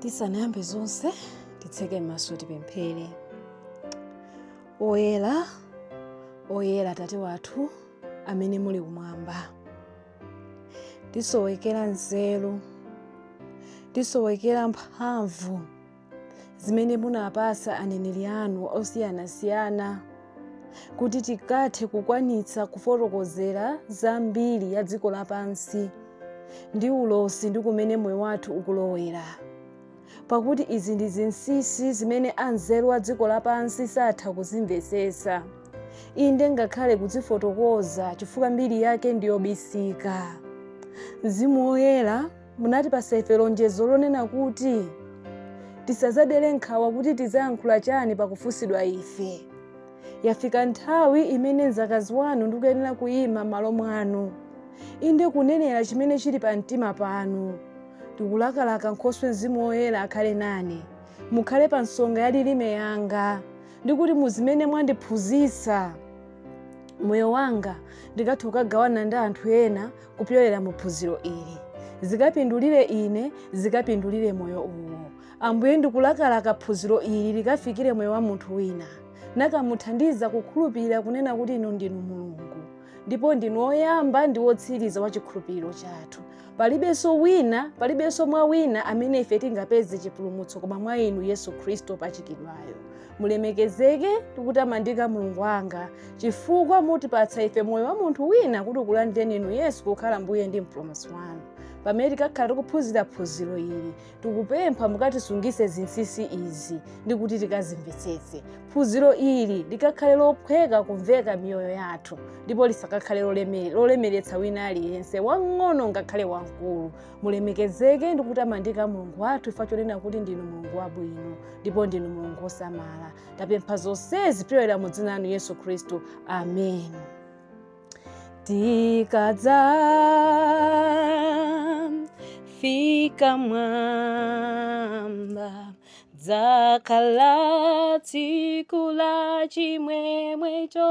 tisanayambe zonse titseke m'maso tipemphere oyera oyera atate wathu amene muli kumwamba tisowekera nzeru tisowekera mphamvu zimene munapasa aneneri anu osiyanasiyana kuti tikathe kukwanitsa kufotokozera za mbiri ya dziko lapansi ndi ulosi ndi kumene moyo wathu ukulowera pakuti izi ndi zinsinsi zimene anzeru a dziko lapansi satha kuzimvetsetsa inde ngakhale kuzifotokoza chifukwa mbiri yake ndiyobisika mzimu woyera munatipasa ife lonjezo lonena kuti tisazadere nkhawa kuti tizayankhula chani pakufunsidwa ife yafika nthawi imene mzakazi wanu ndikuyenera kuyima m'malo mwanu inde kunenera chimene chili pa mtima panu tikulakalaka nkhoswe mzimu woyera akhale nane mukhale pa nsonga ya lilime yanga ndikuti muzimene mwandiphunzitsa m'moyo wanga ndikathe kukagawana ndi anthu ena kupyolera mu phunziro ili zikapindulire ine zikapindulire moyo uwo ambuye ndikulakalaka phunziro ili likafikire moyo wa munthu wina nakamuthandiza kukhulupirira kunena kuti inu ndinu mulungu ndipo ndinu woyamba ndi wotsiriza wa chikhulupiriro chathu palibenso wina palibenso mwa wina amene ife tingapeze chipulumutso koma mwa inu yesu khristu opachikidwayo mulemekezeke ndi kutamandika mulungu wanga chifukwa mutipatsa ife moyo wa munthu wina kuti ukulandireni inu yesu kukhala mbuye ndi mpulumutsi wanu pamene tikakhala tikuphunzira phunziro ili tikupempha mukatisungitse zinsinsi izi ndi kuti tikazimvetsetse phunziro ili likakhale lophweka kumveka miyoyo yathu ndipo lisakakhale loleme- lolemeretsa wina aliyense wang'ono ngakhale wamkulu mulemekezeke ndi kutamandika mulungu wathu chifukwa chonena kuti ndinu mulungu wabwino ndipo ndinu mulungu wosamala tapempha zonsezi kupyolera mu dzina lanu yesu khristu amen tikadzafika mwamba dzakhala tsiku la chimwemwecho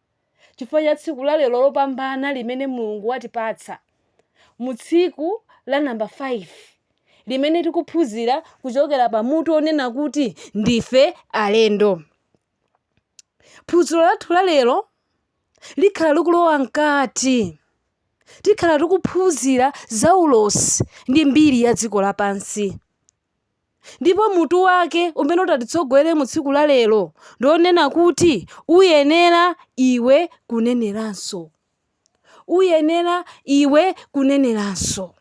chifukwa cha tsiku la lero lopambana limene Mulungu watipatsa mu tsiku la namba 5 limene tikuphunzira kuchokera pa mutu onena kuti ndife alendo. Phunziro lathu la lero likhala likulowa mkati tikhala tikuphunzira za ulosi ndi mbiri ya dziko lapansi. Ndipo mutu wake umene utatitsogolere mu tsiku la lero ndi onena kuti uyenera iwe kuneneranso. Uyenera iwe kuneneranso.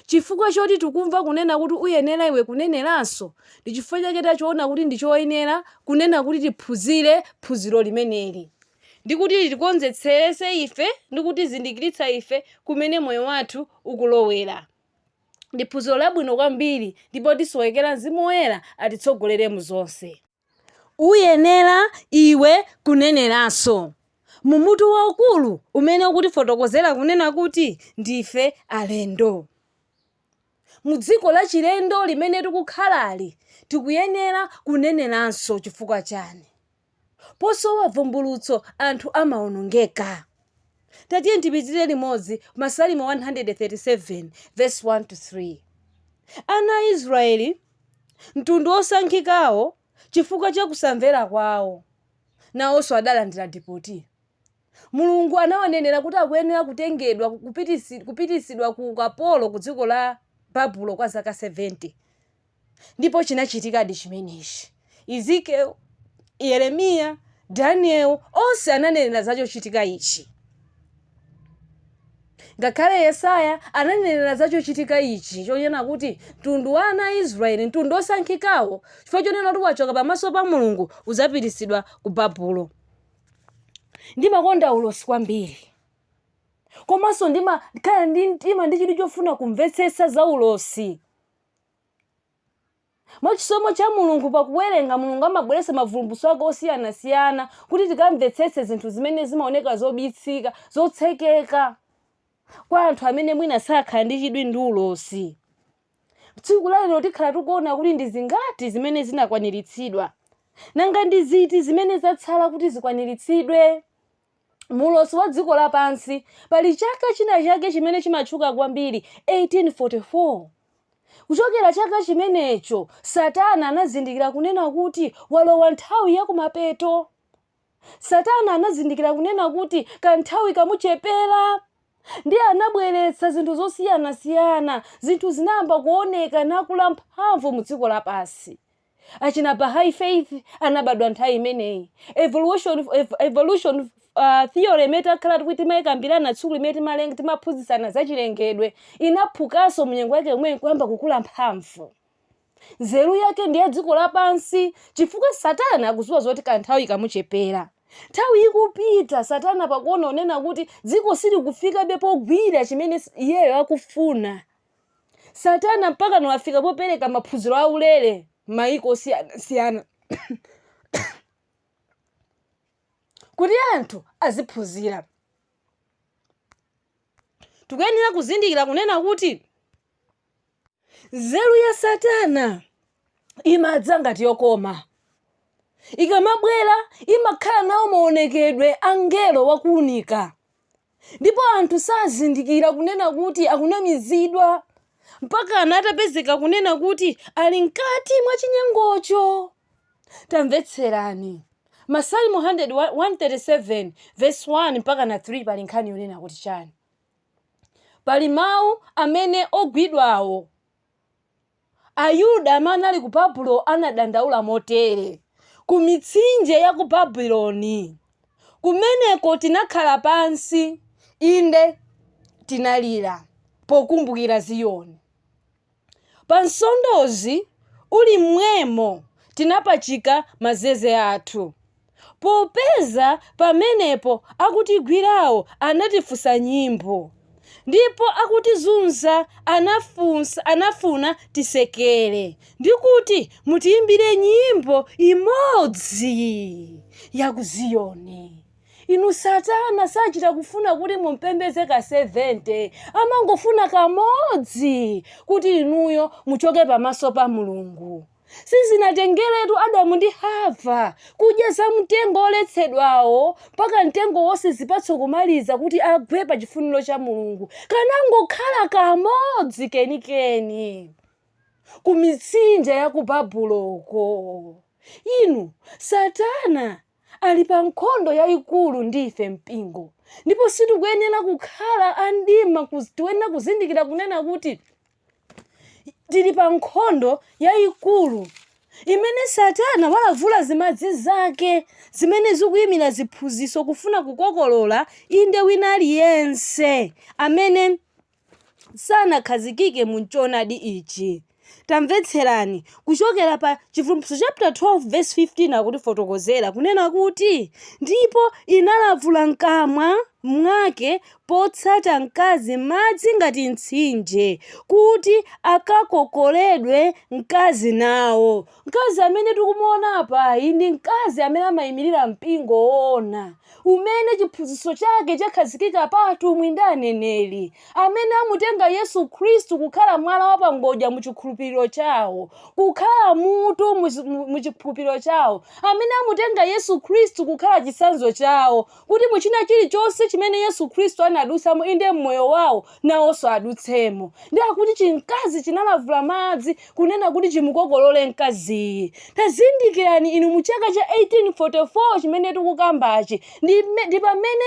Chifukwa choti tikumva kunena kuti uyenera iwe kuneneranso, ndi chifukwa chake tachiona kuti ndi choyenera kunena kuti tiphunzire phunziro limeneli. Ndi kuti litikonzetseretse ife ndi kutizindikiritsa ife kumene moyo wathu ukulowera. Ndi phunziro labwino kwambiri ndipo tisowekera Mzimu Woyera atitsogolere mu zonse. Uyenera iwe kuneneranso. Mu mutu waukulu umene ukutifotokozera kunena kuti ndife alendo. Mu dziko la chilendo limene tikukhalali, tikuyenera kuneneranso chifukwa chani? Posowa bvumbulutso anthu amaonongeka. Tatiyeni tipitire limodzi Masalimo 137 vesi 1 to 3. Ana a Israyeli, mtundu wosankhikawo, chifukwa cha kusamvera kwawo, nawonso adalandira dipoti. Mulungu anawanenera kuti akuyenera kutengedwa kupititsidwa ku ukapolo ku dziko la Babulo kwa zaka 70. Ndipo chinachitikadi chimenechi. Ezekiel, Yeremiya, Daniel, onse ananenera za chochitika ichi. Ngakhale Yesaya ananenera za chochitika ichi chonena kuti mtundu wa ana a Israeli, mtundu osankhikawo, chifukwa chonena kuti wachoka pamaso pa Mulungu, udzapititsidwa ku Babulo. Ndimakonda ulosi kwambiri. Komanso ndimakhala ndi mtima ndi chidwi chofuna kumvetsetsa za ulosi. Mwa chisomo cha Mulungu, pa kuwerenga, Mulungu amabweretsa mavumbulutso ake osiyanasiyana kuti tikamvetsetse zinthu zimene zimaoneka zobitsika, zotsekeka kwa anthu amene mwina sakhala ndi chidwi ndi ulosi. Tsiku la lero tikhala tikuona kuti ndi zingati zimene zinakwaniritsidwa, nanga ndi ziti zimene zatsala kuti zikwaniritsidwe? mu ulosi wa dziko lapansi, pali chaka china chake chimene chimatchuka kwambiri, 1844. Kuchokera chaka chimenecho, Satana anazindikira kunena kuti walowa nthawi ya kumapeto. Satana anazindikira kunena kuti kanthawi kamuchepera. Ndiye anabweretsa zinthu zosiyanasiyana. Zinthu zinayamba kuoneka nakula mphamvu mu dziko lapansi. achina bahai faith anabadwa nthawi imeneyi evolution theory imene takhala tikuti timayikambirana tsiku limene timalenga timaphunzitsana za chilengedwe inaphukanso mnyengo yake yomweyi kuyamba kukula mphamvu nzeru yake ndi ya dziko lapansi chifukwa satana akuziwa zoti kanthawi kamuchepera nthawi ikupita satana pakuona kunena kuti dziko silikufikabe pogwira chimene iyeyo akufuna Satana mpakana wafika popereka maphunziro aulere m'mayiko osiyanasiyana kuti anthu aziphunzira. Tikuyenera kuzindikira kunena kuti nzeru ya Satana imadza ngati yokoma. Ikamabwera imakhala nawo maonekedwe a mngelo wakuunika. ndipo anthu sazindikira kunena kuti akunamizidwa mpakana atapezeka kunena kuti ali mkati mwa chinyengocho. Tamvetserani. Masalimo 100 wa- 137 verse 1 mpakana 3 pali nkhani yonena kuti chani? Pali mawu amene ogwidwawo Ayuda amene anali ku Babulo anadandaula motere, Ku mitsinje ya ku Babuloni kumeneko tinakhala pansi, inde tinalira pokumbukira Ziyoni. Pa nsondozi uli m'mwemo tinapachika mazeze athu. popeza pamenepo akutigwirawo anatifunsa nyimbo ndipo akutizunza anafunsa anafuna tisekere ndikuti mutiimbire nyimbo imodzi ya ku ziyoni inu satana sachita kufuna kuti mumpembedze ka 70 amangofuna kamodzi kuti inuyo muchoke pamaso pa mulungu sizinatengeretu Adamu ndi Hava kudya za mtengo woletsedwawo mpaka mtengo wonse zipatso kumaliza kuti agwe pa chifuniro cha Mulungu. Kanangokhala kamodzi kenikeni ku mitsinje ya ku Babuloko. Inu, Satana ali pa nkhondo yayikulu ndi ife mpingo, ndipo sitikuyenera kukhala a mdima. Tikuyenera kuzindikira kunena kuti tili pa nkhondo yayikulu imene satana walavula zimadzi zake zimene zikuyimira ziphunzitso kufuna kukokolola inde wina aliyense amene sanakhazikike mu choonadi ichi tamvetserani kuchokera pa chivumbulutso chapter 12 verse 15 akutifotokozera kunena kuti ndipo inalavula mkamwa mwake potsata mkazi madzi ngati mtsinje, kuti akakokoledwe mkazi nawo. Mkazi amene tikumuona apayu ndi mkazi amene amaimirira mpingo woona umene chiphunzitso chake chakhazikika pa atumwi ndi aneneri, amene amutenga Yesu Khristu kukhala mwala wa pangodya mu chikhulupiriro chawo, kukhala mutu mu chikhulupiriro chawo, amene amutenga Yesu Khristu kukhala chitsanzo chawo kuti mu china chilichonse chimene Yesu Khristu anadutsamo, inde m'moyo wawo nawonso adutsemo. Ndiye akuti chimkazi chinalavula madzi kunena kuti chimukokolole mkaziyi. Tazindikirani inu mu chaka cha 1844 chimene tikukambachi ndi, ndi pamene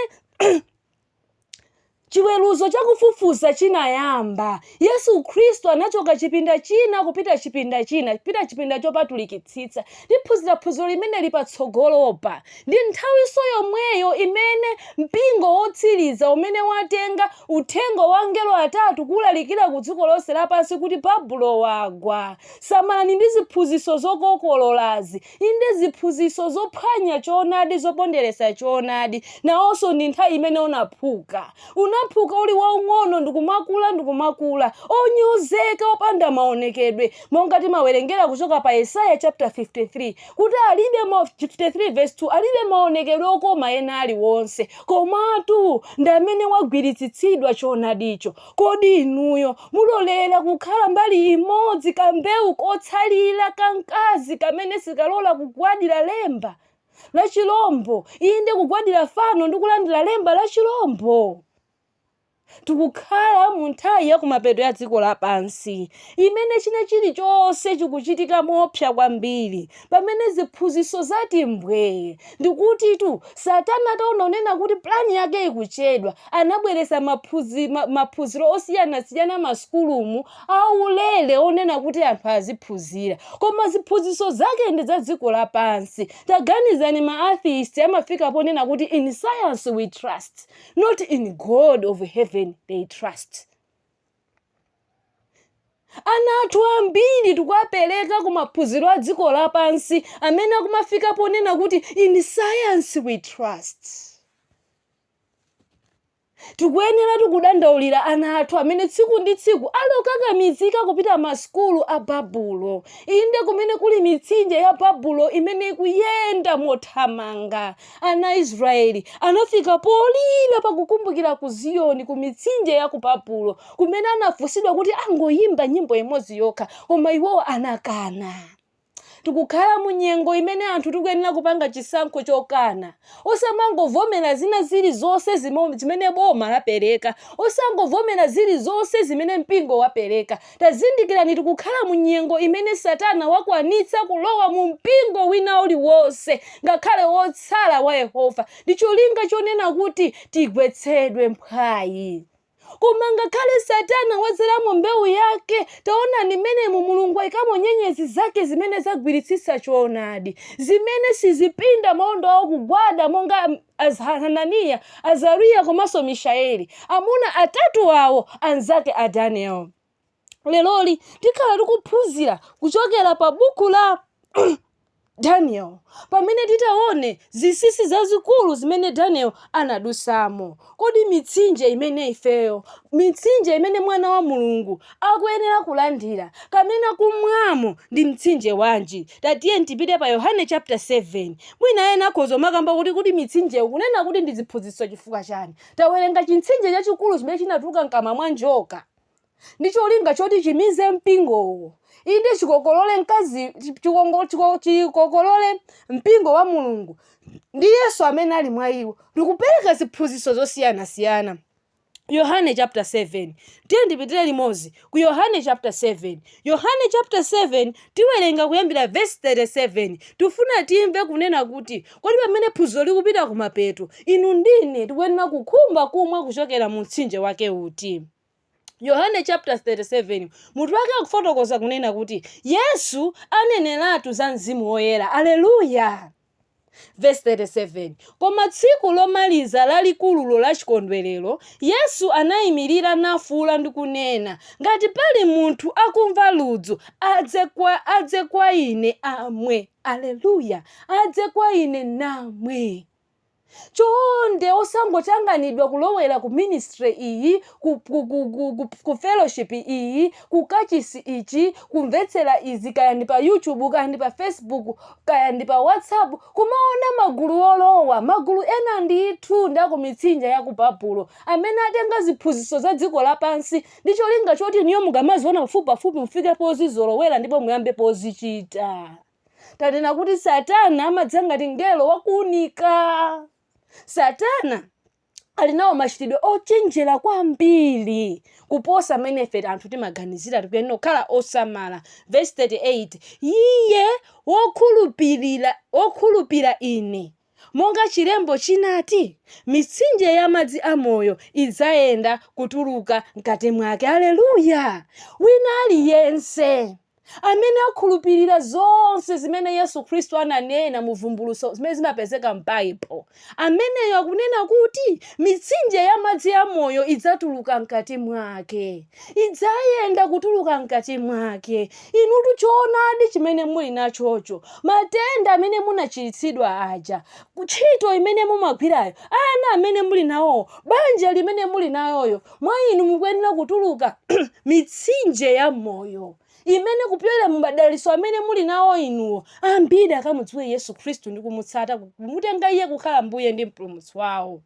chiweruzo cha kufufuza chinayamba, Yesu Khristu anachoka chipinda china kupita chipinda china, kupita chipinda chopatulikitsitsa. Tiphunzira phunziro limeneli patsogolopa. Ndi nthawinso yomweyo imene mpingo wotsiriza umene watenga uthenga wa angelo atatu kulalikira ku dziko lonse lapansi kuti Babulo wagwa. Samalani ndi ziphunzitso zokokololazi. Inde, ziphunzitso zophwanya choonadi, zoponderetsa choonadi, nawonso ndi nthawi imene unaphuka. Unaphuka uli waung'ono ndi kumakula ndi kumakula, onyozeka, opanda maonekedwe, monga timawerengera kuchoka pa Yesaya chaputala 53 kuti alibe 53 vesi 2 alibe maonekedwe okoma ena aliwonse, komatu ndi amene wagwiritsitsidwa choonadicho. Kodi inuyo mulolera kukhala mbali imodzi kambewu kotsalira ka mkazi kamene sikalola kugwadira lemba la chilombo, inde kugwadira fano ndi kulandira lemba la chilombo? Tikukhala mu nthawi ya kumapeto ya dziko lapansi imene china chilichonse chikuchitika moopsa kwambiri. pamene ziphunzitso zati mbwee, ndikutitu satana ataona kunena kuti plan yake ikuchedwa, anabweretsa maphunzi, ma, maphunziro osiyanasiyana masukulumu aulere onena kuti anthu aziphunzira koma ziphunzitso zake ndi za dziko lapansi taganizani ma atheist amafika ponena kuti in science we trust not in god of heaven they trust ana athu ambiri tikuwapereka ku maphunziro a dziko lapansi amene akumafika ponena kuti in science we trust tikuyenera tikudandaulira ana athu amene tsiku ndi tsiku ali okakamizika kupita masukulu a babulo inde kumene kuli mitsinje ya babulo imene ikuyenda mothamanga Ana a Israyeli anafika polira pa kukumbukira ku Ziyoni ku mitsinje ya ku Babulo, kumene anafunsidwa kuti angoyimba nyimbo imodzi yokha, koma iwowo anakana. Tikukhala mu nyengo imene anthu tikuyenera kupanga chisankho chokana. Osamangovomera zina ziri zonse zimene boma lapereka. Osangovomera ziri zonse zimene mpingo wapereka. Tazindikirani, tikukhala mu nyengo imene Satana wakwanitsa kulowa mu mpingo wina uliwonse, ngakhale wotsala wa Yehova, ndi cholinga chonena kuti tigwetsedwe mphwayi. Koma ngakhale Satana wadzalamo mbewu yake, taonani mmenemu Mulungu ayikamo nyenyezi zake zimene zagwiritsitsa choonadi, zimene sizipinda maondo awo kugwada monga A Hananiya, Azariya komanso Mishaeli, amuna atatu awo anzake a Daniel. Leroli tikhala tikuphunzira kuchokera pa buku la Daniel pamene titaone zinsinsi zazikulu zimene Daniel anadutsamo. Kodi mitsinje imene ifeyo, mitsinje imene Mwana wa Mulungu akuyenera kulandira kapena kumwamo ndi mtsinje wanji? Tatiyeni tipite pa Yohane chapter 7. Mwina ena akhoza kumakamba kuti kuti mitsinjeyo kunena kuti ndi ziphunzitso chifukwa chani? Tawerenga chimtsinje chachikulu chimene chinatuluka mkamwa mwa njoka ndi cholinga choti chimize mpingowo inde chikokolole mkazi chikongo- chiko- chikokolole mpingo wa mulungu ndi yesu amene ali mwa iwo ndikupereka ziphunzitso zosiyanasiyana Yohane chapter 7. Tiyeni tipitire limodzi ku Yohane chapter 7. Yohane chapter 7 tiwerenga kuyambira verse 37. Tifuna timve kunena kuti kodi pamene phunziro likupita kumapeto, inu ndi ine tikuyenera kukhumba kumwa kuchokera mu mtsinje wake uti? Yohane chapter 37 mutu wake akufotokoza kunena kuti Yesu aneneratu za mzimu woyera. Aleluya! Vesi 37, Koma tsiku lomaliza lalikululo la chikondwerero, Yesu anayimirira nafuwula ndi kunena, Ngati pali munthu akumva ludzu, adze kwa, adze kwa Ine, amwe. Aleluya! Adze kwa Ine, namwe. Chonde osangotanganidwa kulowera ku ministry iyi, ku, ku, ku, ku, ku, ku fellowship iyi, ku kachisi ichi, kumvetsera izi, kaya ndi pa YouTube, kaya ndi pa Facebook, kaya ndi pa WhatsApp, kumaona magulu olowa, magulu ena ndithu ndi a ku mitsinje ya ku Babulo, amene atenga ziphunzitso za dziko lapansi ndi cholinga choti inuyo mukamaziona pafupipafupi mufike pozizolowera ndipo muyambe pozichita. Tanena kuti Satana amadza ngati mngelo wa kuunika. Satana ali nawo machitidwe ochenjera kwambiri kuposa mmene ife anthu timaganizira tikuyenera kukhala osamala vesi 38 iye wokhulupirira wokhulupira ine Monga chilembo chinati, Mitsinje ya madzi a moyo idzayenda kutuluka mkati mwake. Aleluya! Wina aliyense amene akhulupirira zonse zimene Yesu Khristu ananena mu vumbulutso zimene zimapezeka m'Baibulo, ameneyo akunena kuti mitsinje ya madzi a moyo idzatuluka mkati mwake. idzayenda kutuluka mkati mwake. Inutu choonadi chimene muli nachocho, matenda amene munachiritsidwa aja, ntchito imene mumagwirayo, ana amene muli nawowo, banja limene muli naloyo, mwa inu mukuyenera kutuluka mitsinje ya moyo imene kupyolera mu madalitso amene muli nawo inuwo ambiri akamudziwe Yesu Khristu ndi kumutsata kumutenga iye kukhala mbuye ndi mpulumutsi wawo.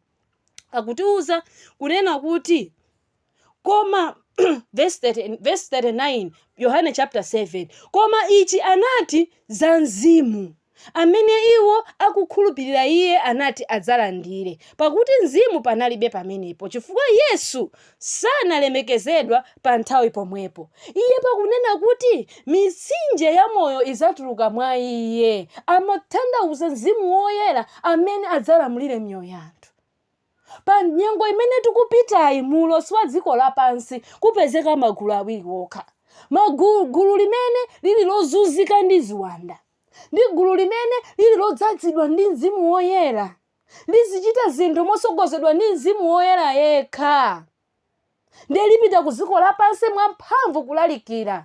Akutiuza kunena kuti Koma, vesi 39, Yohane chapter 7, koma ichi anati za Mzimu, amene iwo akukhulupirira iye anati adzalandire, pakuti Mzimu panalibe pamenepo, chifukwa Yesu sanalemekezedwa pa nthawi pomwepo. Iye pakunena kuti mitsinje ya moyo idzatuluka mwa iye, amatanthauza Mzimu Woyera amene adzalamulire miyoyo ya anthu. Pa nyengo imene tikupitayi mu ulosi wa dziko lapansi kupezeka magulu awiri okha. Magulu, gulu limene lili lozunzika ndi ziwanda ndi gulu limene lili lodzazidwa ndi Mzimu Woyera. Lizichita zinthu motsogozedwa ndi Mzimu Woyera yekha. ndiye lipita ku dziko lapansi mwamphamvu kulalikira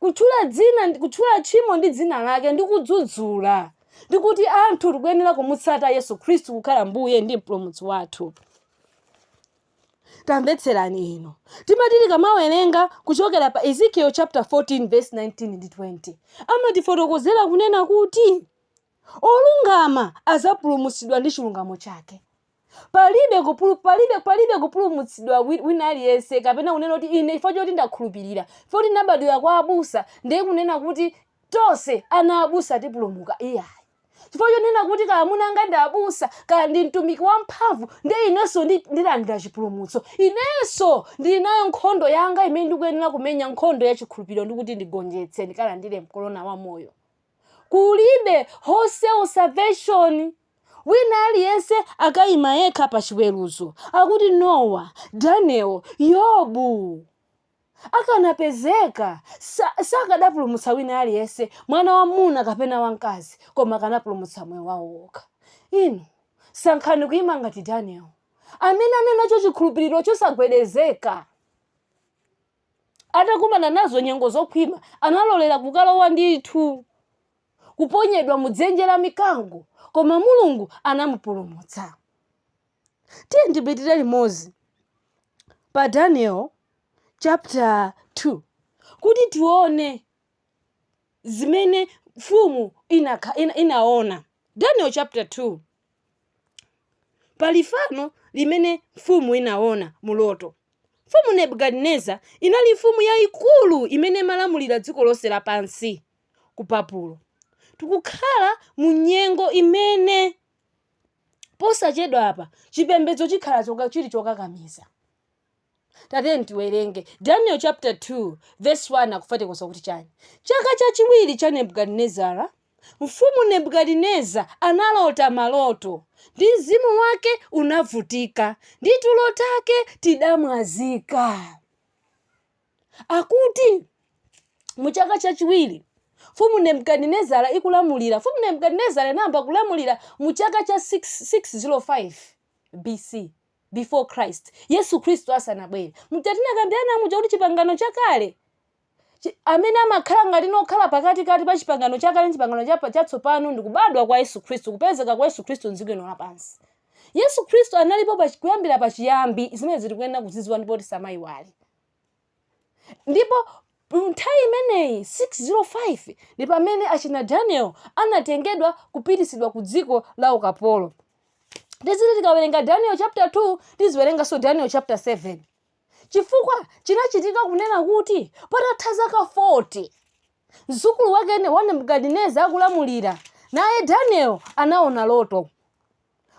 kutchula dzina ndi- kutchula tchimo ndi dzina lake ndi kudzudzula ndi kuti anthu tikuyenera kumutsata yesu khristu kukhala mbuye ndi mpulumutsi wathu tamvetserani inu timati tikamawerenga kuchokera pa ezekiel chapter 14 verse 19 ndi 20 amatifotokozera kunena kuti olungama adzapulumutsidwa ndi chilungamo chake Palibe kupulu, palibe, palibe kupulumutsidwa wi- wina aliyense kapena kunena kuti ine chifukwa choti ndakhulupirira, chifukwa kuti ndinabadwira kwa abusa ndiye kunena kuti tonse ana abusa tipulumuka. Iyayi. Chifukwa chonena kuti kaya amuna anga ndi abusa, kaya ndi mtumiki wamphamvu, ndiye inenso ndi- ndilandira chipulumutso. Inenso ndili nayo nkhondo yanga imene ndikuyenera kumenya nkhondo ya chikhulupiriro ndi kuti ndigonjetse ndikalandire korona wa moyo. Kulibe wholesale salvation. Wina aliyense akaima yekha pa Chiweruzo, akuti, Nowa, Daniel, Yobu, akanapezeka, sa, sakadapulumutsa wina aliyense, mwana wamuna kapena wamkazi, koma akanapulumutsa moyo wawo wokha. Inu, sankhani kuima ngati Daniel, amene anali nacho chikhulupiriro chosagwedezeka. Atakumana nazo nyengo zokhwima, analolera kukalowa ndithu kuponyedwa mu dzenje la mikango, koma Mulungu anamupulumutsa. Tiyeni tipitire limodzi pa Daniel chapter 2 kuti tione zimene mfumu inakha- ina- inaona. Daniel chapter 2 pali fano limene mfumu inaona mu loto. Mfumu Nebukadineza inali mfumu yayikulu imene imalamulira dziko lonse lapansi. ku Babulo. Tikukhala mu nyengo imene posachedwapa chipembedzo chikhala chili chokakamiza. Tatiyeni tiwerenge Daniel chapter 2 verse 1 akufotokoza kuti chani. Chaka chachiwiri cha Nebukadinezara, mfumu Nebukadineza analota maloto, ndi mzimu wake unavutika, ndi tulo take tidamwazika. akuti mu chaka chachiwiri mfumu nebukadinezara ikulamulira mfumu nebukadinezara inayamba kulamulira mu chaka cha 605 bc before christ yesu khristu asanabwere Mmene tinakambirana muja kuti chipangano chakale chi- amene amakhala ngati wokhala pakatikati pa chipangano chakale ndi chipangano chapa- chatsopano ndi kubadwa kwa yesu khristu kupezeka kwa yesu khristu mdziko lino lapansi yesu khristu analipo pa- kuyambira pachiyambi zimene tikuyenera kuzidziwa ndipo tisamayiwale Ndipo nthawi imeneyi, 605, ndi pamene achina Daniel anatengedwa kupititsidwa ku dziko la ukapolo. Tiziti tikawerenga Daniel chapter 2, tiziwerenganso Daniel chapter 7. Chifukwa chinachitika kunena kuti patatha zaka 40, mzukulu wake wa Nebukadineza akulamulira, naye Daniel anaona loto.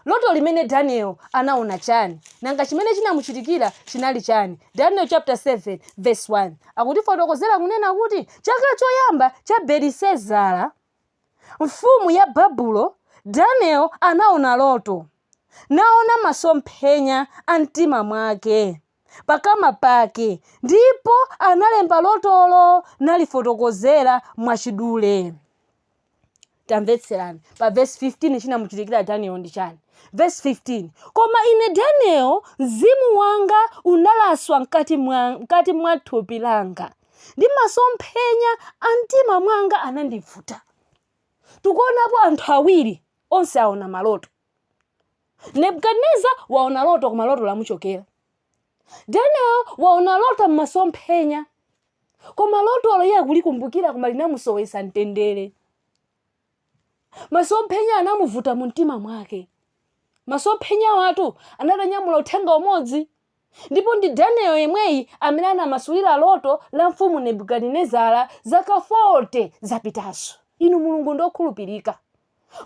Loto limene Daniel anaona chani? Nanga chimene chinamuchitikira chinali chani? Daniel chapter 7 verse 1 akutifotokozera kunena kuti chaka choyamba cha Belisezara mfumu ya Babulo, Daniel anaona loto, naona masomphenya a mtima mwake. pakama pake ndipo analemba lotolo nalifotokozera mwachidule tamvetserani pa vesi 15 chinamuchitikira daniel ndi chani vesi 15 koma ine daniel mzimu wanga unalaswa mkati mwa, mkati mwa thupi langa ndi masomphenya a mtima mwanga anandivuta tikuonapo anthu awiri onse aona maloto nebukadineza waona loto koma loto lamuchokera daniel waona loto mmasomphenya koma lotolo iye akulikumbukira koma linamusowesa mtendere masomphenya anamuvuta mu mtima mwake masomphenya awatu atanyamula uthenga umodzi Ndipo ndi Daniel yemweyi amene anamasulira loto la mfumu Nebukadinezara zaka 40 zapitazo. Inu Mulungu ndi okhulupirika.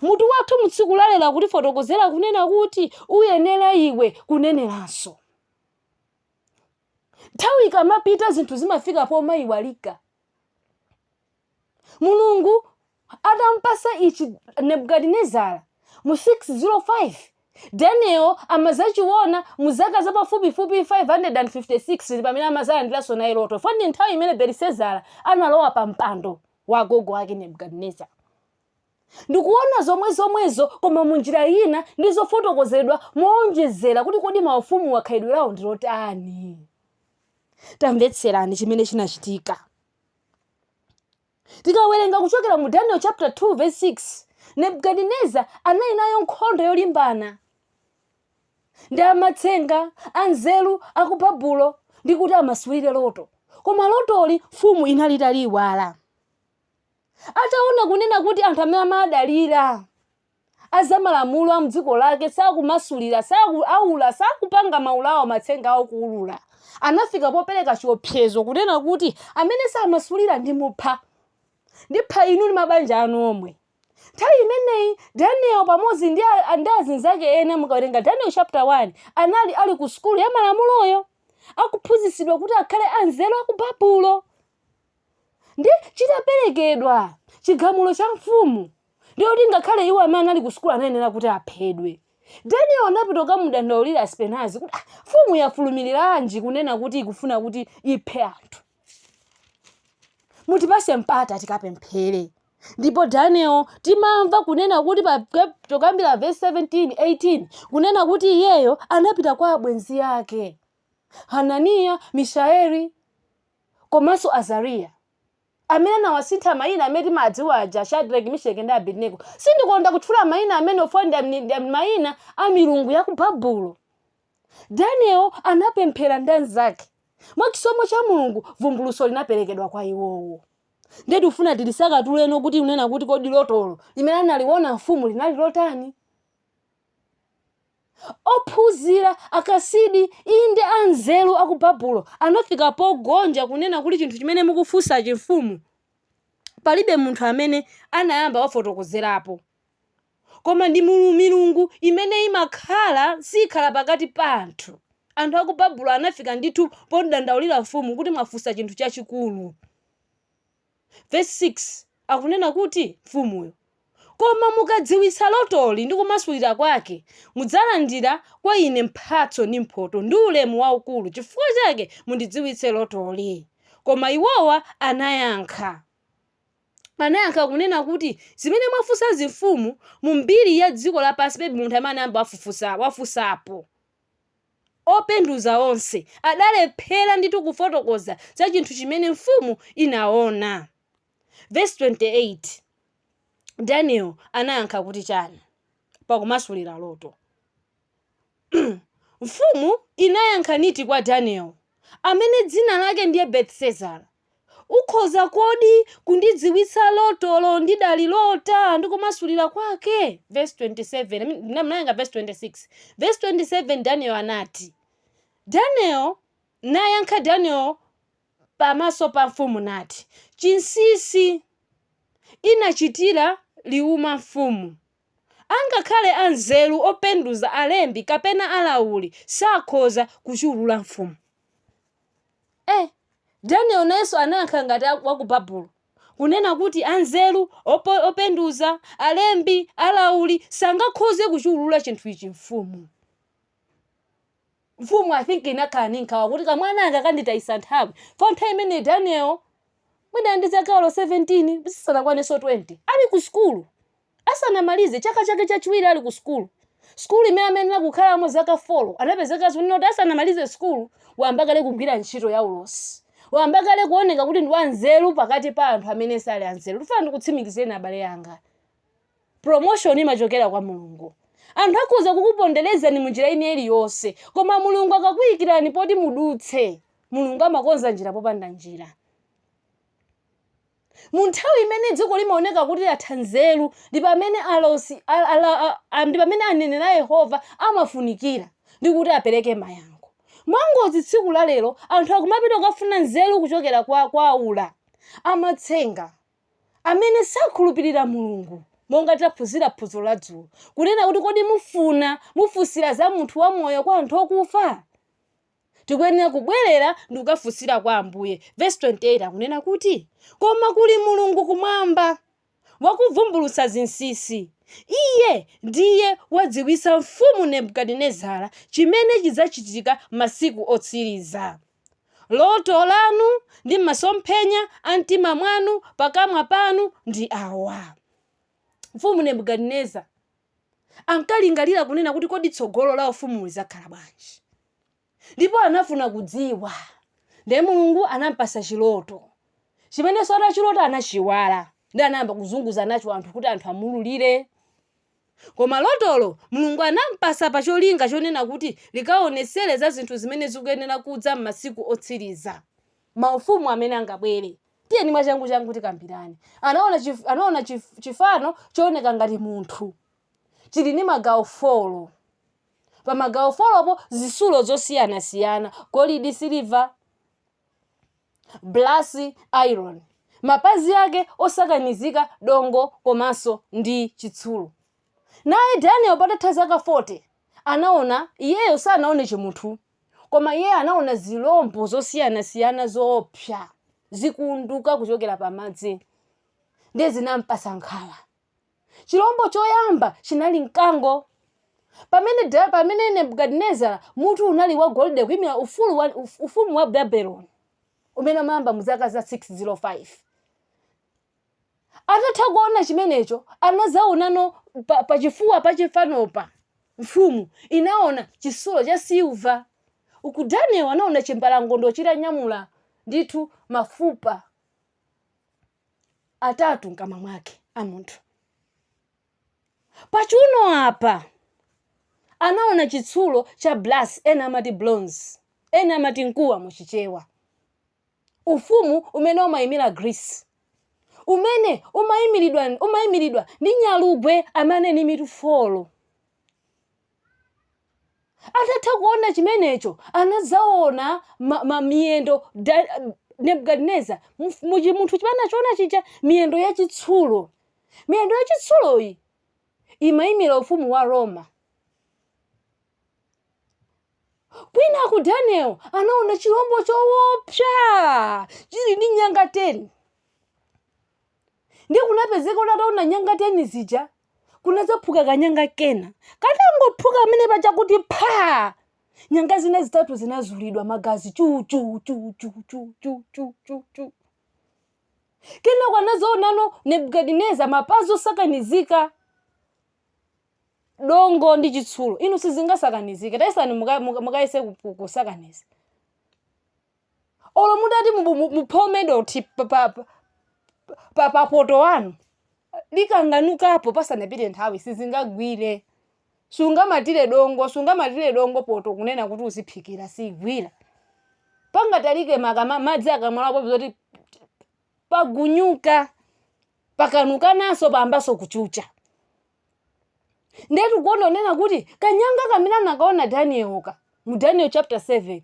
Mutu wathu mu tsiku la lero akutifotokozera kunena kuti uyenera iwe kuneneranso. Nthawi ikamapita zinthu zimafika pomaiwalika. mulungu atampasa ichi nebukadinezara mu 605 daniel amazachiona mu zaka zapafupifupi 556 pamene amazalandiranso naye loto fo ndi nthawi imene belisezara analowa pa mpando wa agogo ake nebukadinezara ndikuona zomwe zomwezo koma mu njira ina ndi zofotokozedwa moonjezera kuti kodi maufumuwa khalidwe lawo ndilotani tamvetserani chimene chinachitika tikawerenga kuchokera mu daniel chapter 2 verse 6 nebukadinezara anali nayo nkhondo yolimbana ndi amatsenga anzeru aku babulo ndi kuti amasulire loto koma lotoli mfumu inali italiiwala ataona kunena kuti anthu amene amadalira a zamalamulo a mdziko lake sakumasulira sakuulula sakupanga maula awo matsenga awo kuulula anafika popereka chiopsezo kunena kuti amene samasulira ndimupha ndipha inu ndi mabanja anu omwe nthawi imeneyi daniel pamodzi ndi a- a- ndi azinzake ena mukawerenga daniel chapter 1 anali ali ku sukulu ya malamuloyo akuphunzitsidwa kuti akhale anzeru aku babulo ndi chitaperekedwa chigamulo cha mfumu ndiye kuti ngakhale iwo amene anali ku sukulu anayenera kuti aphedwe daniel anapita kukamudandaulira aspenazi kuti "Ah, mfumu yafulumiriranji kunena kuti ikufuna kuti iphe anthu mutipase mpata tikapemphere ndipo daniel timamva kunena kuti pa chiyambira vesi 17 18 kunena kuti iyeyo anapita kwa abwenzi ake hananiya mishaeli komanso Azariya, amene anawasintha mayina amene timawadziwa aja, Shadrake, Misheki ndi Abedinego. Sindikonda kutchula mayina amenewo chifukwa ndi amni- ndi am- mayina a milungu ya ku Babulo. Daniel anapemphera ndi anzake. Mwa chisomo cha Mulungu, vumbulutso linaperekedwa kwa iwowo. Ndiye tikufuna tilisanthuleno kuti kunena kuti kodi lotolo limene analiona mfumu linali lotani? Ophunzira, Akasidi, inde, anzeru a ku Babulo, anafika pogonja kunena kuti chinthu chimene mukufunsachi, Mfumu, palibe munthu amene anayamba wafotokozerapo. Koma ndi mulu milungu imene imakhala sikhala pakati pa anthu. Anthu a ku Babulo anafika ndithu podandaulira mfumu kuti mwafunsa chinthu chachikulu. Vesi 6 akunena kuti, Mfumuyo, Koma mukadziwitsa lotoli ndi kumasulira kwake, mudzalandira kwa ine mphatso ndi mphotho ndi ulemu waukulu, chifukwa chake mundidziwitse lotoli. Koma iwowa anayankha. Anayankha kunena kuti, Zimene mwafunsazi mfumu, mu mbiri ya dziko lapansi palibe munthu amene anayamba wafunsapo. Openduza onse adalephera ndithu kufotokoza za chinthu chimene mfumu inaona. Vesi 28, Daniel anayankha kuti chani pakumasulira loto? Mfumu inayankha niti kwa Daniel, amene dzina lake ndiye Betsezara. Ukhoza kodi kundidziwitsa lotolo ndidalilota ndi kumasulira kwake? Vesi 27, I mean, mnawerenga vesi 26. Vesi 27 Daniel anati. Daniel nayankha Daniel pamaso pa mfumu nati, Chinsisi inachitira liuma mfumu. Angakhale anzeru openduza alembi kapena alauli sakhoza kuchiulula mfumu. Eh, Daniel nayenso anayankha ngati a- wa ku Babulo, kunena kuti anzeru, opo- openduza, alembi, alauli sangakhoze kuchiwulula chinthu ichi mfumu. Mfumu I think inakhala ndi nkhawa kuti kamwana anga kanditayisa nthawi. For nthawi imene Daniel mwina ndi zaka olo 17 zisanakwanenso 20 ali ku sukulu. asanamalize chaka chake chachiwiri ali ku sukulu, sukulu imene amayenera kukhalamo zaka folo, anapezeka kunena kuti asanamalize sukulu wayamba kale kugwira ntchito yaulosi, wayamba kale kuoneka kuti ndi wanzeru pakati pa anthu amene sali anzeru. Ndikufuna ndikutsimikizireni abale anga, promotion imachokera kwa Mulungu. Anthu akhoza kukuponderezani mu njira ina iliyonse, koma Mulungu akakuikirani poti mudutse, Mulungu amakonza njira popanda njira. Mu nthawi imene dziko limaoneka kuti latha nzeru, ndi pamene alosi a, a, a, a, a, ndi pamene aneneri a Yehova amafunikira ndi kuti apereke mayankho. Mwangozi tsiku la lero anthu akumapita kukafuna nzeru kuchokera kwa, kwa aula, amatsenga, amene sakhulupirira Mulungu. Monga taphunzira phunziro la dzulo, kunena kuti kodi mufuna mufunsira za munthu wamoyo kwa anthu okufa? Tikuyenera kubwerera ndi kukafunsira kwa Ambuye. Vesi 28 akunena kuti, Koma kuli Mulungu kumwamba, wakuvumbulutsa zinsinsi. Iye ndiye wadziwitsa mfumu Nebukadinezara chimene chidzachitika masiku otsiriza. Loto lanu ndi masomphenya a mtima mwanu pakamwa panu ndi awa. Mfumu Nebukadineza ankalingalira kunena kuti, Kodi tsogolo la ufumuwu lidzakhala bwanji? Ndipo anafuna kudziwa. Ndiye Mulungu anampasa chiloto, chimenenso atachilota anachiwala ndiye anayamba kuzunguza nacho anthu kuti anthu amululire. Koma lotolo Mulungu anampasa pa cholinga chonena kuti likaonetsere za zinthu zimene zikuyenera kudza m'masiku otsiriza. maufumu amene angabwere. Tiyeni mwachangu changu tikambirane. Anaona chif, anaona chif, chifano chooneka ngati munthu chili ndi magawo folo. Pa magawo folopo zitsulo zosiyanasiyana, golidi, siliva, blasi, iron. Mapazi ake osakanizika dongo komanso ndi chitsulo. Naye Daniel patatha zaka 40 anaona, iyeyo sanaone chimunthu Koma iye anaona zirombo zosiyanasiyana zoopsa zikuvunduka kuchokera pamadzi ndiye zinampasa nkhawa. Chirombo choyamba chinali mkango. Pamene, da- pamene Nebukadinezara mutu unali wa golide kuimira ufulu wa, uf- ufumu wa Babeloni umene umayamba mu zaka za 605 Atatha kuona chimenecho, anadzaonano pa, pa chifuwa pa chifanopa. Mfumu inaona chitsulo cha silva. Uku Daniel anaona chimbalangondo chitanyamula ndithu mafupa atatu mkamwa mwake a munthu. Pachiuno apa anaona chitsulo cha brass, ena amati bronze, ena amati mkuwa mu Chichewa. ufumu umene umaimira Greece, umene umaimiridwa umaimiridwa ndi nyalugwe amene ali ndi mitu folo. Atatha kuona chimenecho, anadzaona ma- ma- miyendo da- Nebukadineza mf- mu chimunthu chimene anachiona chija miyendo yachitsulo. Miyendo yachitsuloyi imaimira ufumu wa Roma. kwinaku daniel anaona chilombo chowopsa chili ndi nyanga 10 ndiye kunapezeka kuti ataona nyanga 10 zija kunadzaphuka kanyanga kena katangophuka amene pachakuti pha nyanga zina zitatu zinazulidwa magazi chu chu chu chu chu chu chu chu chu kenako anazaonano nebukadineza mapazi osakanizika dongo ndi chitsulo inu sizingasakanizike tayesani muka- muka- mukayese ku- ku- kusakaniza olo mutati mubu- mu- muphome dothi pa- pa- pa- pa- pa poto wanu likanganukapo pasanapite nthawi sizingagwire sungamatire dongo sungamatire dongo poto kunena kuti uziphikira sigwira pangatalike makamaka madzi akamalapo zoti pagunyuka pakanukananso payambanso kuchucha ndiye tikuona kunena kuti kanyanga kamene anakaona danielka mu daniel chapter 7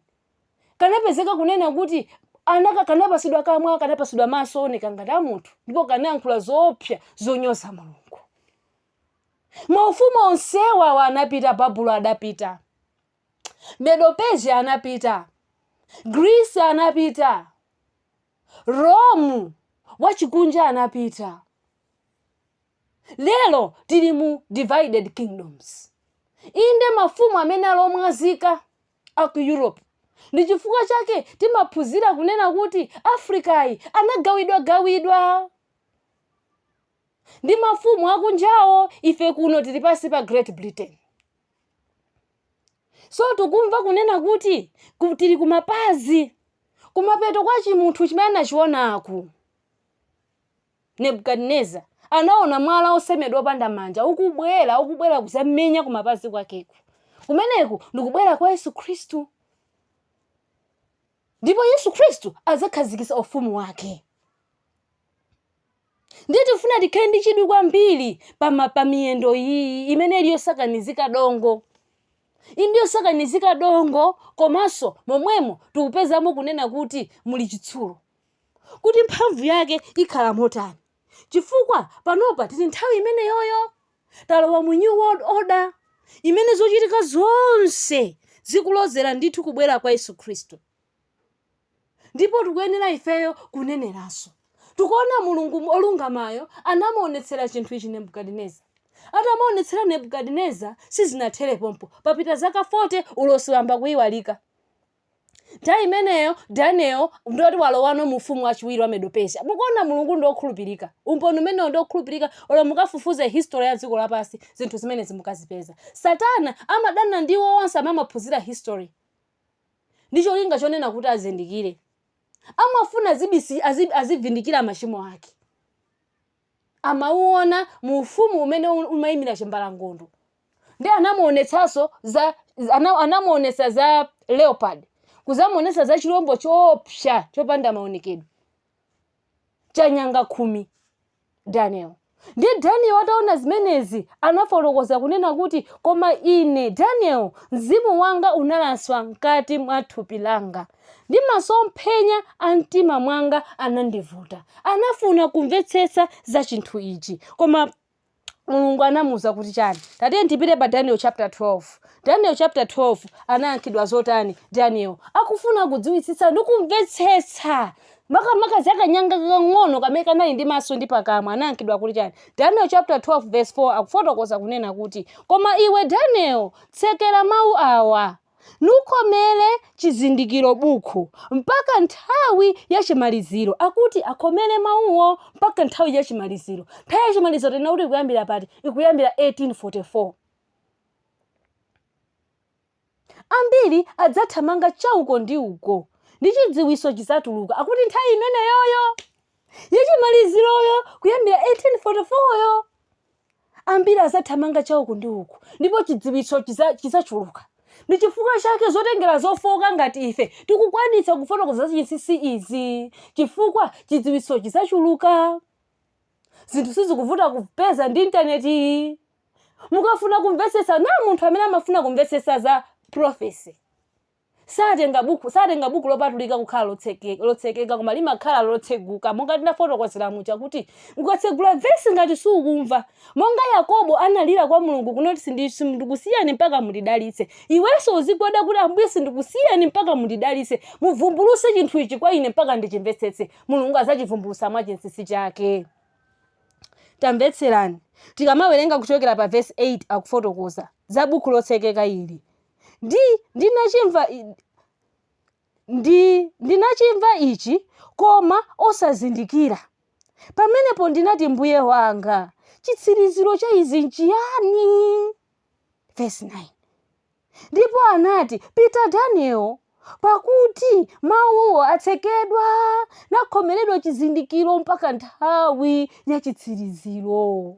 kanapezeka kunena kuti kanapasidwa kamwa kanapasidwa maso ooneka ngati a munthu ndipo kanayankhula zoopsa zonyoza mulungu maufumu onsewa awa anapita babulo adapita medopesia anapita grisi anapita romu wachikunja anapita Lero tili mu divided kingdoms. Inde mafumu amene ali omwazika a ku Europe ndi chifukwa chake timaphunzira kunena kuti Africayi anagawidwagawidwa ndi mafumu akunjawo ife kuno tili pansi pa Great Britain. So tikumva kunena kuti tili kumapazi kumapeto kwa chimunthu chimene anachionaku. Nebukadineza anaona mwala osemedwa opanda manja ukubwera ukubwera kuzamenya kumapazi kwakeku kumeneku ndikubwera kwa yesu khristu ndipo yesu khristu adzakhazikisa ufumu wake ndiye tifuna tikhale ndi chidwi kwambiri pama pa miyendo iyi imene ili yosakanizika dongo inde yosakanizika dongo komanso momwemo tikupezamo kunena kuti muli chitsulo kuti mphamvu yake ikhala motani chifukwa panopa tili nthawi imeneyoyo talowa mu new world order imene zochitika zonse zikulozera ndithu kubwera kwa yesu khristu ndipo tikuyenera ifeyo kuneneranso tikuona mulungu olungamayo anamuonetsera chinthu ichi nebukadineza atamuonetsera nebukadineza sizinathere pompo papita zaka 40 ulosi wayamba kuyiwalika nthawi imeneyo daniel ndi woti walowano mu ufumu wachiwiri wa medopesia mukuona mulungu ndi okhulupirika umboni umenewo ndi okhulupirika olo mukafufuza history ya dziko lapansi zinthu zimenezi mukazipeza satana amadana ndi iwo onse amene amaphunzira history ndi cholinga chonena kuti azindikire amafuna azibisi- azi- azivindikira machimo ake amauona mu ufumu umene u- umaimira chimbalangondo ndiye anamuonetsanso za ana- anamuonetsa za leopard kuzamuonetsa za chilombo choopsa chopanda maonekedwe cha nyanga khumi daniel ndiye daniel ataona zimenezi anafotokoza kunena kuti koma ine daniel mzimu wanga unalaswa mkati mwa thupi langa ndi masomphenya a mtima mwanga anandivuta. Anafuna kumvetsetsa za chinthu ichi. Koma Mulungu anamuwuza kuti chani? Tatiyeni tipite pa Daniel chapter 12. Daniel chapter 12 anayankhidwa zotani Daniel? Akufuna kudziwitsitsa ndi kumvetsetsa makamaka za kanyanga kakang'ono kamene kanali ndi maso ndi pakamwa anayankhidwa kuti chani daniel chapter 12 verse 4 akufotokoza kunena kuti koma iwe daniel tsekera mawu awa nukomere chizindikiro bukhu mpaka nthawi ya chimaliziro akuti akomere mawuwo mpaka nthawi ya chimaliziro nthawi ya chimaliziro tanena kuti ikuyambira pati ikuyambira 1844 ambiri adzathamanga chauko ndi uko ndi chidziwiso chizatuluka akuti nthawi imeneyoyo yachimaliziroyo kuyambira 1844yo Ambiri adzathamanga cha uku ndi uku, ndipo chidziwitso chidzachuluka. Ndi chifukwa chake zotengera zofooka ngati ife tikukwanitsa kufotokoza zachinsinsi izi, chifukwa chidziwitso chidzachuluka. Zinthu sizikuvuta kupeza ndi intaneti iyi. Mukafuna kumvetsetsa, naye munthu amene amafuna kumvetsetsa za prophecy. satenga buku satenga buku lopatulika kukhala lotsekeka koma limakhala lotseguka monga tinafotokozera muja kuti ukatsegula vesi ngati sukumva monga yakobo analira kwa mulungu kunena kuti sindikusiyani mpaka mundidalitse iwenso uzigwada kuti ambuye sindikusiyani mpaka mundidalitse muvumbuluse chinthu ichi kwa ine mpaka ndichimvetsetse mulungu azachivumbulusa mwa chinsinsi chake tamvetserani tikamawerenga kuchokera pa vesi 8 akufotokoza za buku lotsekeka ili ndi ndinachimva ndi ndinachimva ichi koma osazindikira pamenepo ndinati mbuye wanga chitsiriziro cha izi nchiyani verse 9 ndipo anati pita daniel pakuti mawuwo atsekedwa nakhomeredwa chizindikiro mpaka nthawi ya chitsiriziro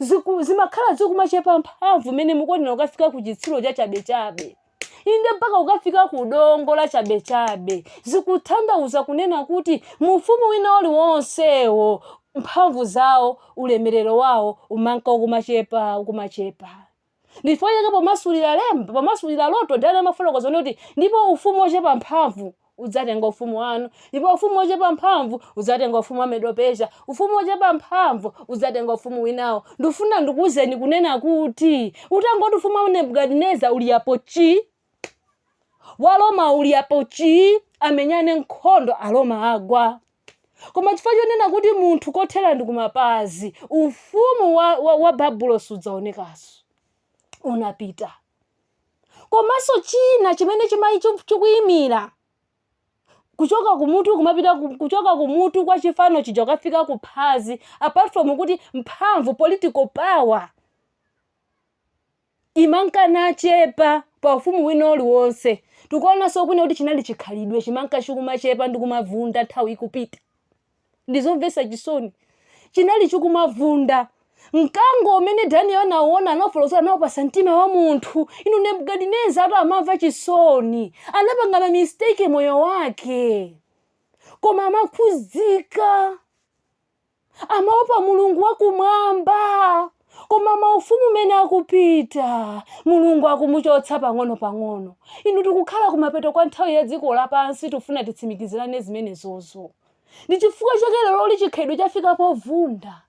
ziku- zimakhala zikumachepa mphamvu mmene mukuonera kukafika ku chitsulo chachabechabe inde mpaka kukafika ku dongo la chabechabe zikutanthauza kunena kuti mu ufumu wina uliwonsewo mphamvu zawo ulemerero wawo umanka ukumachepa ukumachepa Ndi chifukwa chake pomasulira lemba, pomasulira loto Daniel amafotokoza kunena kuti ndipo ufumu wochepa mphamvu udzatenga ufumu wanu, ndipo ufumu wochepa mphamvu udzatenga ufumu wa Medo-Persia, ufumu wochepa mphamvu udzatenga ufumu winawo. Ndikufuna ndikuwuzeni kunena kuti utangoti ufumu wa Nebukadineza uli apo chi, wa roma ulipo chii amenyane nkhondo aroma agwa koma chifukwa chonena kuti munthu kuthera ndi kumapazi ufumu wa, wa, wa babulo sudzaonekaso unapita komanso china chimene chimai chu- chikuyimira kuchoka kumutu kumapita ku- kuchoka kumutu kwa chifano chija kukafika ku phazi apart from kuti mphamvu political power imanka nachepa pa ufumu wina uliwonse. Tikuonanso kunena kuti chinali chikhalidwe chimanka chikumachepa ndi kumavunda nthawi ikupita. Ndi zomvetsa chisoni. Chinali chikumavunda. Mkango umene Daniel anauona anafotokozera anaupasa mtima wa munthu. Inu Nebukadineza tu amamva chisoni. Anapanga ma mistake moyo wake. Koma amakhudzika. amaopa mulungu wakumwamba koma maufumu mene akupita mulungu akumuchotsa pang'ono pang'ono inu tikukhala kumapeto kwa nthawi ya dziko lapansi tifuna titsimikizirane zimenezozo ndi chifukwa chake leroli chikhalidwe chafika povunda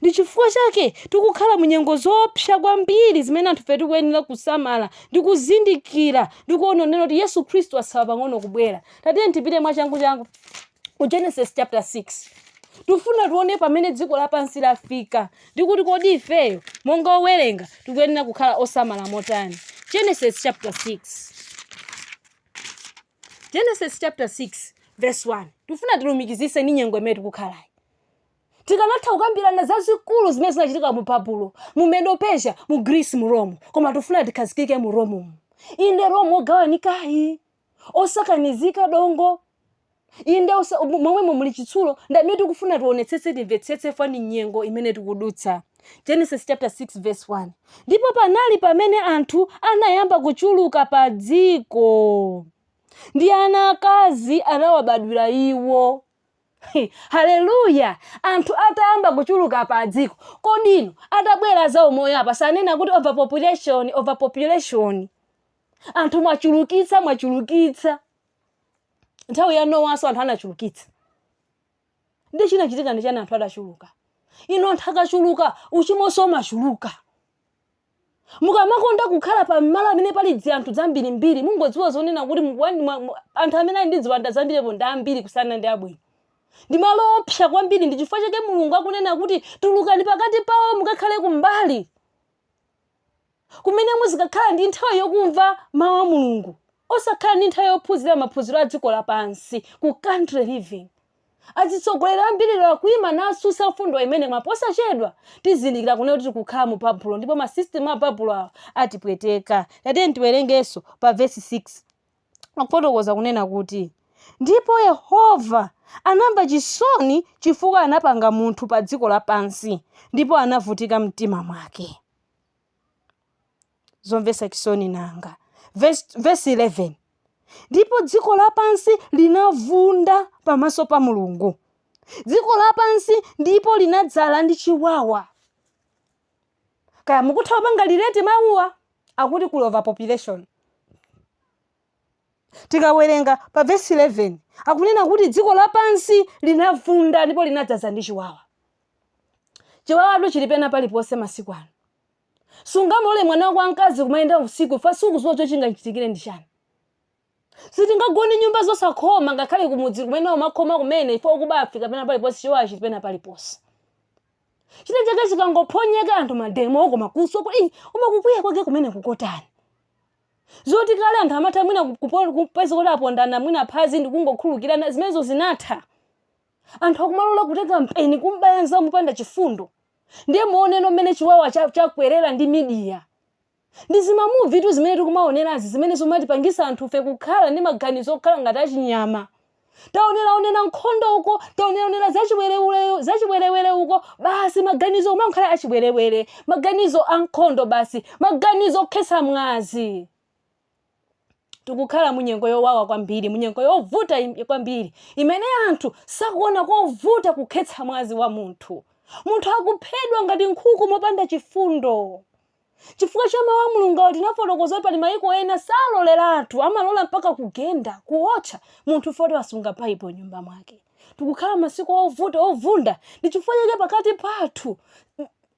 Ndi chifukwa chake tikukhala mu nyengo zoopsa kwambiri zimene anthufe tikuyenera kusamala ndi kuzindikira ndi kuona kunena kuti Yesu Khristu atsala pang'ono kubwera. Tatiyeni tipite mwachanguchangu ku Genesis chapter 6. Tifuna tione pamene dziko lapansi lafika ndi kuti kodi ifeyo monga owerenga tikuyenera kukhala osamala motani. Genesis chapter 6. Genesis chapter 6 verse 1. Tifuna tilumikizise ndi nyengo imene tikukhalayi. Tikanatha kukambirana zazikulu zimene zinachitika mu Babulo, mu Medo-Persia, mu Greece, mu Rome, koma tikufuna tikhazikike mu Romumu. Inde Rome wogawanikayu, osakanizika dongo, inde osa- mo- momwemo muli chitsulo, ndi mmene tikufuna tionetsetse timvetsetse chifukwa ndi nyengo imene tikudutsa. Genesis chapter 6 verse 1. Ndipo panali pamene anthu anayamba kuchuluka pa dziko, ndi ana akazi anawabadwira iwo. He, haleluya anthu atayamba kuchuluka padziko kodi inu atabwera a zaumoyo apa sanena kuti overpopulation overpopulation anthu mwachulukitsa mwachulukitsa nthawi ya nowaso anthu anachulukitsa nde chinachitika ndi chani anthu atachuluka inu anthu akachuluka uchimoso umachuluka mukamakonda kukhala pa malo amene pali dzianthu dzambirimbiri mungodziwa zonena kuti mukuwani- mwa- mwa- anthu amene ali ndi ziwanda zambiripo ndi ambiri kusiyana ndi abwino ndi malo oopsa kwambiri ndi chifukwa chake mulungu akunena kuti tulukani pakati pawo mukakhale kumbali kumene muzikakhala ndi nthawi yokumva mawu a mulungu osakhala ndi nthawi yophunzira maphunziro a dziko lapansi ku country living Azitsogoleri ambiri lero akuima natsutsa mfundo imene mwa posachedwa tizindikira kunena kuti tikukhala mu babulo ndipo ma system a babulo awa atipweteka. Tatiyeni tiwerengenso pa verse 6. Akufotokoza kunena kuti ndipo Yehova anamva chisoni chifukwa anapanga munthu pa dziko lapansi ndipo anavutika mumtima mwake. Zomvetsa chisoni nanga! Vesi 11, Ndipo dziko lapansi linavunda pamaso pa Mulungu, dziko lapansi ndipo linadzala ndi chiwawa. Kaya mukutha kupanga relate mawuwa akuti kuli overpopulation. Tikawerenga pa vesi 11 akunena kuti dziko lapansi linavunda ndipo linadzaza ndi chiwawa. Chiwawatu chili pena paliponse masiku ano. Sungamulole mwana wako wamkazi kumayenda usiku chifukwa sukudziwa chingachitikire ndi chani. Sitingagone nyumba zosakhoma ngakhale kumudzi kumene umakhoma kumene chifukwa okuba afika pena paliponse chiwawa chili pena paliponse. China chake chikangophonyeka anthu mademo koma kuswa kuti "Ih, koma kukwiya kwake kumene kukotani. Zoti kale anthu amatha mwina kupo- kupeza kuti apondana mwina phazi ndi kungokhulukirana zimenezo zinatha. Anthu akumalola kutenga mpeni kumbaya mnzawo mopanda chifundo. ndiye muoneno mmene chiwawa cha- chakwerera ndi midiya ndi zimamuvitu zimene tikumaonerazi zimene zimatipangisa anthufe kukhala ndi maganizo okhala ngati achinyama taoneraonera nkhondo uko taoneraonera zachiwerewere uko basi maganizo kumakhala achiwerewere maganizo a nkhondo basi maganizo okhetsa mwazi tikukhala munyengo yowawa kwambiri munyengo yovuta im- kwambiri imene anthu sakuona kovuta kukhetsa mwazi wa munthu munthu akuphedwa ngati nkhuku mopanda chifundo chifukwa cha mawu a mulungu tinafotokoza kuti pali mayiko ena saloleratu amalola mpaka kugenda kuwotcha munthu foti wasunga baibulo m'nyumba mwake tikukhala masiku ovuta ovunda ndi chifukwa chake pakati pathu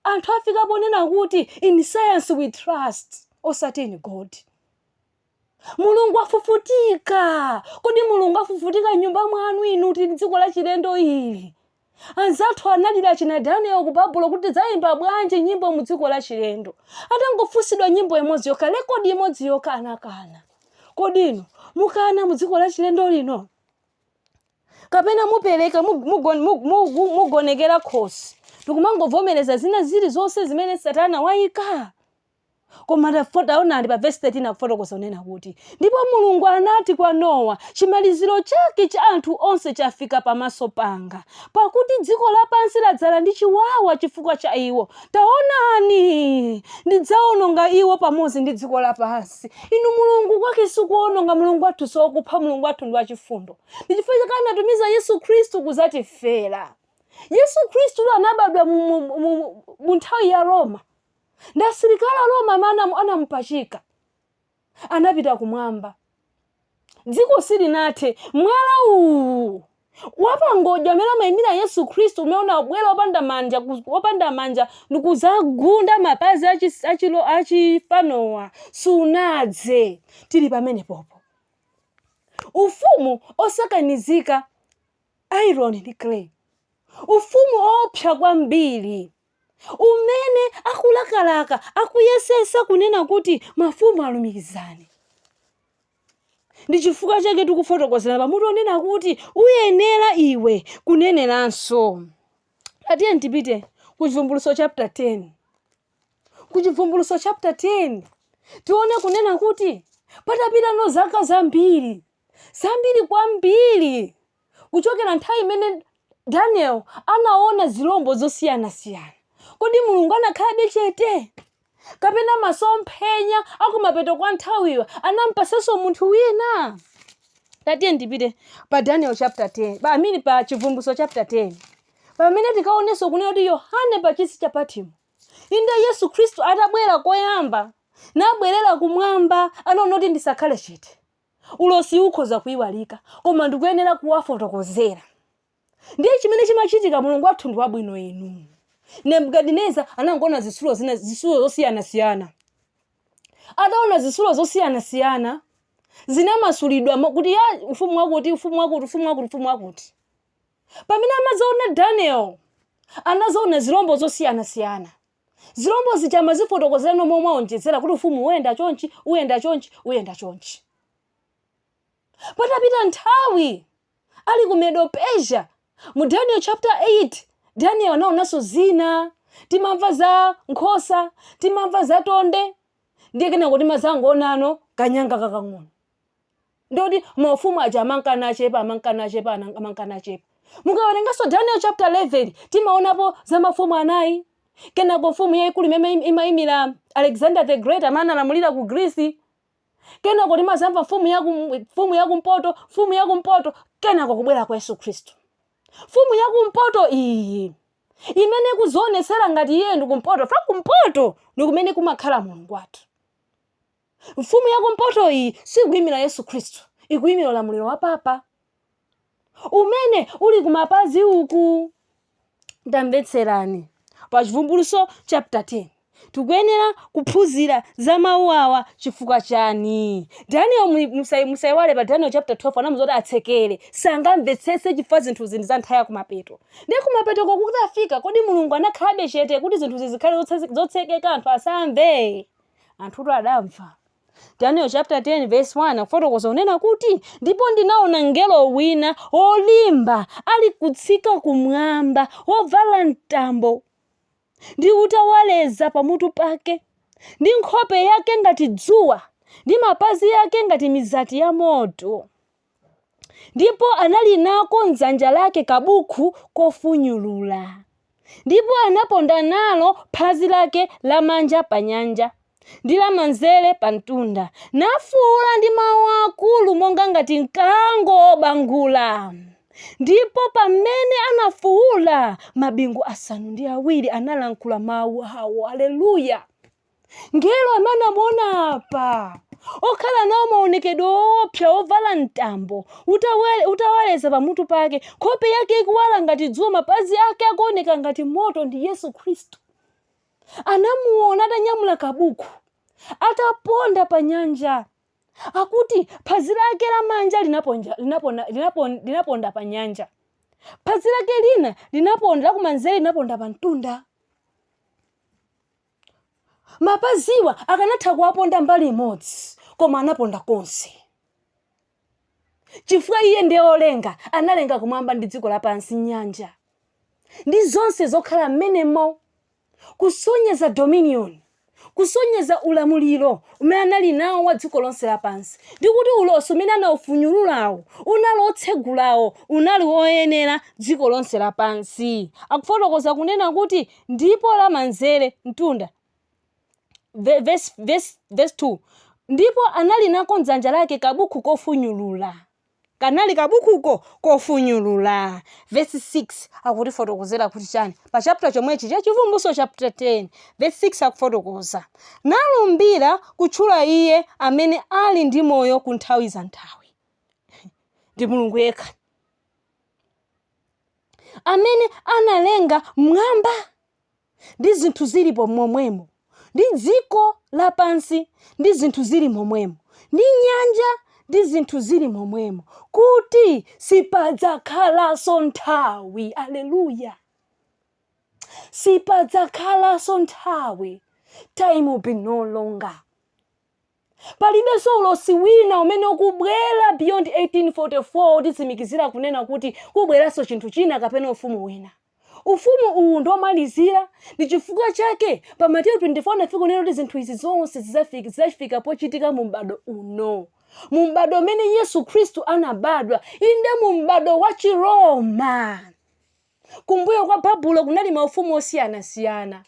anthu afika ponena kuti in science we trust osati in God. Mulungu afufutika. Kodi Mulungu afufutika m'nyumba mwanu inu tili m'dziko la chilendo ili? Anzathu analira achina Daniel ku Babulo kuti tidzayimba bwanji nyimbo mu dziko la chilendo. Atangofunsidwa nyimbo imodzi yokha, rekodi imodzi yokha anakana. Kodi inu mukana mu dziko la chilendo lino? kapena mupereka mug- mugon- mug- mugu- mugonekera khosi ndikumangovomereza zina zili zonse zimene satana wayika koma taonani pa vesi 13 akufotokoza kunena kuti ndipo mulungu anati kwa nowa chimaliziro chake cha anthu onse chafika pamaso panga pakuti dziko lapansi ladzala ndi chiwawa chifukwa cha iwo taonani ndidzaononga iwo pamodzi ndi dziko lapansi inu mulungu kwake sikuononga mulungu wathu sokupha mulungu wathu ndi wachifundo ndi chifukwa chake anatumiza yesu khristu kuzatifera yesu khristu anabadwa mu- mu- mu- mu nthawi ya roma nda asilikali a Roma amene anamu- anamupachika anapita kumwamba dziko silinathe mwala uwu wapangodya amene amayimira yesu khristu umene unabwera wopanda manja ku- wopanda manja ndikuzagunda mapazi achi- achilo- achifanowa sunadze tili pamene popo ufumu osakanizika iron ndi clay ufumu oopsa kwambiri umene akulakalaka akuyesesa kunena kuti mafumu alumikizane. Ndi chifukwa chake tikufotokozera pa mutu onena kuti uyenera iwe kuneneranso. Tatiyeni tipite ku Chivumbulutso chapter 10. Ku Chivumbulutso chapter 10 tione kunena kuti patapitano zaka zambiri zambiri kwambiri Kuchokera nthawi imene Daniel anaona zilombo zosiyanasiyana, kodi Mulungu anakhalabe chete? Kapena masomphenya akumapeto kwa nthawiyo anampasanso munthu wina? Tatiyeni tipite pa Daniel chapter 10, I mean pa Chivumbulutso chapter 10. Pamene tikaonenso kunena kuti Yohane pa chisi cha Patimo. Inde Yesu Khristu atabwera koyamba, nabwerera kumwamba, anaona kuti ndisakhale chete. Ulosiwu ukhoza kuiwalika, koma ndikuyenera kuwafotokozera. Ndiye chimene chimachitika, Mulungu wathu ndi wabwino inu. Nebukadineza anangoona zitsulo zina, zitsulo zosiyanasiyana. Ataona zitsulo zosiyanasiyana zinamasulidwa mo- kuti ya ufumu wakuti ufumu wakuti ufumu wakuti ufumu wakuti. Pamene amazaona Daniel anazaona zilombo zosiyanasiyana. Zilombo zija amazifotokozerano momwe aonjezera kuti ufumu uyenda chonchi, uyenda chonchi, uyenda chonchi. Patapita nthawi ali ku Medo Persia mu Daniel chapter 8, Daniel anaonanso zina. Timamva za nkhosa, timamva za tonde, ndiye kenako timazangoonano kanyanga kakang'ono. Ndi kuti maufumu aja amanka nachepa, amanka nachepa, ana- amanka nachepa. Mukawerenganso Daniel chapter 11 timaonapo za mafumu anayi. Kenako mfumu yayikulu imene im- imayimira Alexander the Great amene analamulira ku Greece. Kenako timazamva mfumu ya kum- mfumu ya kumpoto, mfumu ya kumpoto, kenako kubwera kwa Yesu Khristu. Mfumu ya kumpoto iyi imene ikuzionetsera ngati iyeyo ndi kumpoto, chifukwa kumpoto ndi kumene kumakhala Mulungu wathu. Mfumu ya kumpoto iyi sikuimira Yesu Khristu, ikuimira ulamuliro wa papa umene uli kumapazi uku. Tamvetserani pa Chivumbulutso chapter 10 tikuyenera kuphunzira za mawu awa chifukwa chani daniel mu- musai- musaiwale pa daniel chapter 12 anamuza kuti atsekere sangamvetsetse chifukwa zinthuzi ndi za nthawi ya kumapeto ndi kumapeto kukati kwafika kodi mulungu anakhalabe chete kuti zinthu zizikhale zotse- zotsekeka anthu asamve anthutu adamva daniel chapter 10 verse 1 akufotokoza kunena kuti ndipo ndinaona mngelo wina wolimba ali kutsika kumwamba wovala mtambo ndi utawaleza pamutu pake ndi nkhope yake ngati dzuwa ndi mapazi yake ngati mizati ya moto ndipo anali nako m'dzanja lake kabukhu kofunyulula, ndipo anaponda nalo phazi lake lamanja panyanja, ndi lamanzere pamtunda, nafuula ndi mawu akulu monga ngati mkango wobangula. Ndipo pamene anafuula, mabingu asanu ndi awiri analankhula mawu awo. Aleluya! Mngelo amene anamuona apa okhala nawo maonekedwe owopsa ovala mtambo utawe- utawaleza pamutu pake nkhope yake ikuwala ngati dzuwa mapazi ake akuoneka ngati moto ndi yesu khristu anamuona atanyamula kabuku ataponda pa nyanja akuti phazi lake lamanja linaponja- linapona- linapon- linaponda pa nyanja phazi lake lina linaponda lakumanzere linaponda pa mtunda Mapaziwa akanatha kuwaponda mbali imodzi, koma anaponda konse. Chifukwa iye ndiye wolenga, analenga kumwamba ndi dziko lapansi, nyanja, ndi zonse zokhala mmenemo, kusonyeza dominion, kusonyeza ulamuliro umene anali nawo wa dziko lonse lapansi, ndi kuti ulosi umene anaufunyululawo unali otsegulawo unali woyenera dziko lonse lapansi. Akufotokoza kunena kuti Ndipo lamanzere, pamtunda. Verse 2 ndipo anali nako mdzanja lake kabuku kofunyulula kanali kabukuko kofunyulula vesi 6 akutifotokozera kuti chani pa chapter chomwechi cha Chivumbulutso chapter 10 vesi 6 akufotokoza nalumbira kutchula iye amene ali ndi moyo ku nthawi za nthawi ndi mulungu yekha amene analenga m'mwamba ndi zinthu zilipo momwemo, ndi dziko lapansi ndi zinthu zili momwemo, ndi nyanja ndi zinthu zili momwemo, kuti sipadzakhalanso nthawi. Aleluya! Sipadzakhalanso nthawi. Time will be no longer. Palibenso ulosi wina umene ukubwera beyond 1844 wotitsimikizira kunena kuti kubweranso chinthu china kapena ufumu wina. Ufumu uwu ndi womalizira, ndi chifukwa chake pa Mateyu 24 anafika kunena kuti zinthu izi zonse zidzafika pochitika mu m'bado uno, mu m'bado umene Yesu Khristu anabadwa, inde mu m'bado wa Chiroma. Kumbuyo kwa Babulo kunali maufumu osiyanasiyana.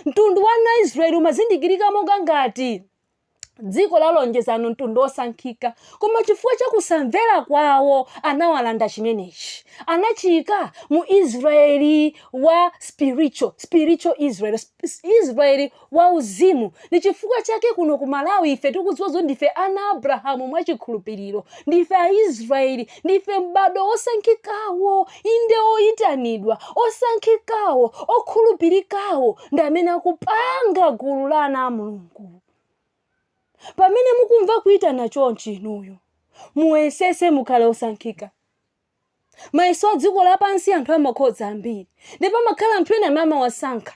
Mtundu wa ana a Israyeli umazindikirika monga ngati dziko la lonjezano, mtundu wosankhika. Koma chifukwa cha kusamvera kwawo, anawalanda chimenechi. Anachiika mu Israyeli wa spiritual, spiritual Israel. Israel wauzimu. Ndi chifukwa chake kuno ku Malawi ife tikudziwa zoti ndife ana a Abrahamu mwa chikhulupiriro. Ndife a Israel. Ndife m'bado osankhikawo, inde oyitanidwa, osankhikawo, okhulupirikawo ndi amene akupanga gulu la ana a Mulungu. Pamene mukumva kuyitana chonchi inuyo, muyesese mukhale osankhika. mayeso a dziko lapansi anthu amakhoza ambiri ndipo amakhala anthu ena amene amawasankha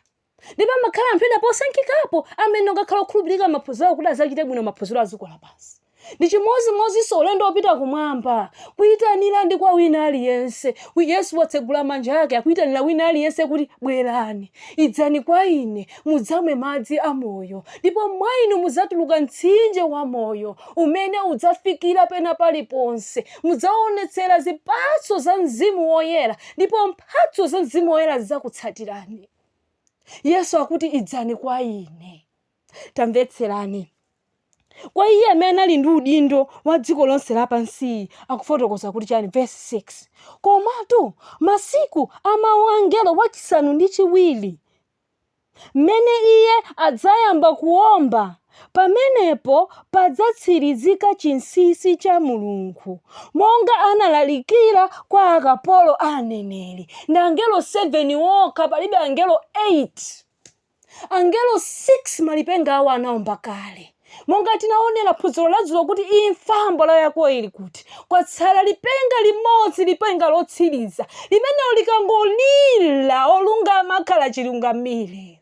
ndipo amakhala anthu ena posankhikapo amene amakhala okhulupirika maphunziro awo kuti adzachite bwino maphunziro a dziko lapansi ndi chimodzimodzinso ulendo wopita kumwamba kuyitanira ndi kwa wina aliyense Yesu watsegula manja ake akuyitanira wina aliyense kuti bwerani idzani kwa ine mudzamwe madzi a moyo ndipo mwa inu mudzatuluka mtsinje wa moyo umene udzafikira pena paliponse Mudzaonetsera zipatso za Mzimu Woyera ndipo mphatso za Mzimu Woyera zidzakutsatirani. Yesu akuti idzani kwa ine. Tamvetserani. Kwa iye amene anali ndi udindo wa dziko lonse lapansiyi akufotokoza kuti chani verse 6. Komatu masiku a mawu a mngelo wachisanu ndi chiwiri mmene iye adzayamba kuwomba, pamenepo padzatsirizika chinsinsi cha Mulungu, monga analalikira kwa akapolo ake aneneri. Ndi angelo 7 okha, palibe angelo 8. Angelo 6 malipenga awo anawomba kale. Monga tinaonela phunziro la dzulo kuti imfa mbola yako ili kuti? Kwatsala lipenga limodzi, lipenga lotsiriza. Limenelo likangolira, olungama akhala chilungamire.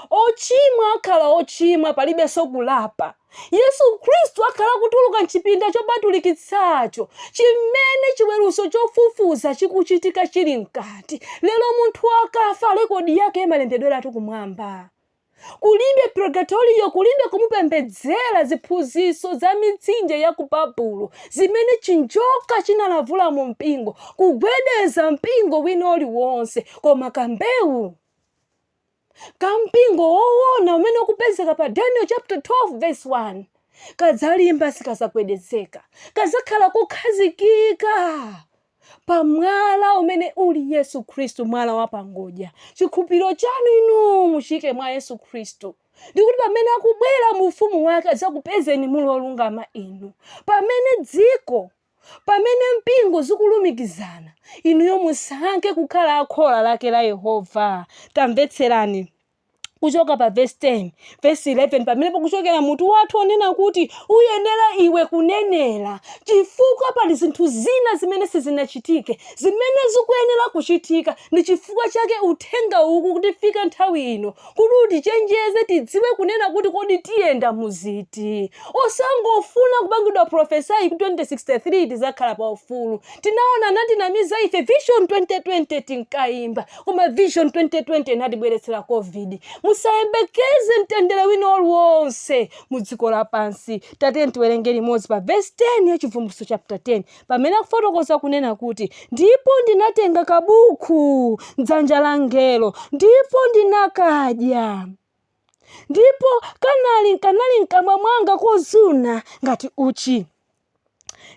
Ochimwa akhala ochimwa, palibenso kulapa. Yesu Khristu akhala kutuluka m'chipinda chopatulikitsacho chimene chiweruzo chofufuza chikuchitika chili mkati. Lero munthu akafa, rekodi yake imalembedweratu kumwamba. Kulibe purgatorio, kulibe kumupembedzera, ziphunzitso za mitsinje ya ku Babulo, zimene chinjoka chinalavula mu mpingo, kugwedeza mpingo wina uliwonse, koma kambewu ka mpingo woona umene ukupezeka pa Daniel chapter 12 verse 1 kadzalimba sikazagwedezeka, kazakhala kukhazikika pa mwala umene uli yesu khristu mwala wa pangodya chikhulupiriro chanu inu muchiike mwa yesu khristu ndikuti pamene akubwera mu ufumu wake adzakupezeni muli olungama inu pamene dziko pamene mpingo zikulumikizana inuyo musankhe kukhala akhola lake la yehova tamvetserani kuchoka pa verse 10 verse 11 pamene pakuchokera mutu wathu onena kuti uyenera iwe kunenera chifukwa pali zinthu zina zimene sizinachitike zimene zikuyenera kuchitika ndi chifukwa chake uthenga ukukutifika nthawi ino kuti utichenjeze tidziwe kunena kuti kodi tiyenda muziti osangofuna kupangidwa profesayi ku 2063 tizakhala pa ufulu tinaona anatinamiza ife vision 2020 tinkayimba koma vision 2020 inatibweretsera covid musayembekeze mtendere wina uliwonse mu dziko lapansi tatiyeni tiwerenge limodzi pa vesi 10 ya chivumbulutso chapter 10 pamene akufotokoza kunena kuti ndipo ndinatenga kabuku mdzanja la mngelo ndipo ndinakadya ndipo kanali kanali mkamwa mwanga kozuna ngati uchi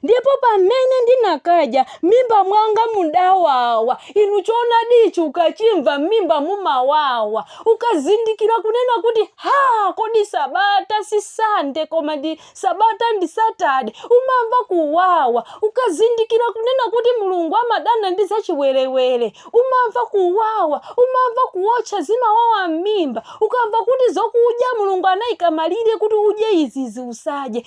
ndipo pamene ndinakadya m'mimba mwanga mudawawa inu choonadi ichi ukachimva m'mimba mumawawa ukazindikira kunena kuti ha kodi sabata si sande koma ndi sabata ndi satade umamva kuwawa ukazindikira kunena kuti mulungu amadana ndi zachiwerewere umamva kuwawa umamva kuotcha zimawawa m'mimba ukamva kuti zokudya mulungu anaika malire kuti udye izizi usadye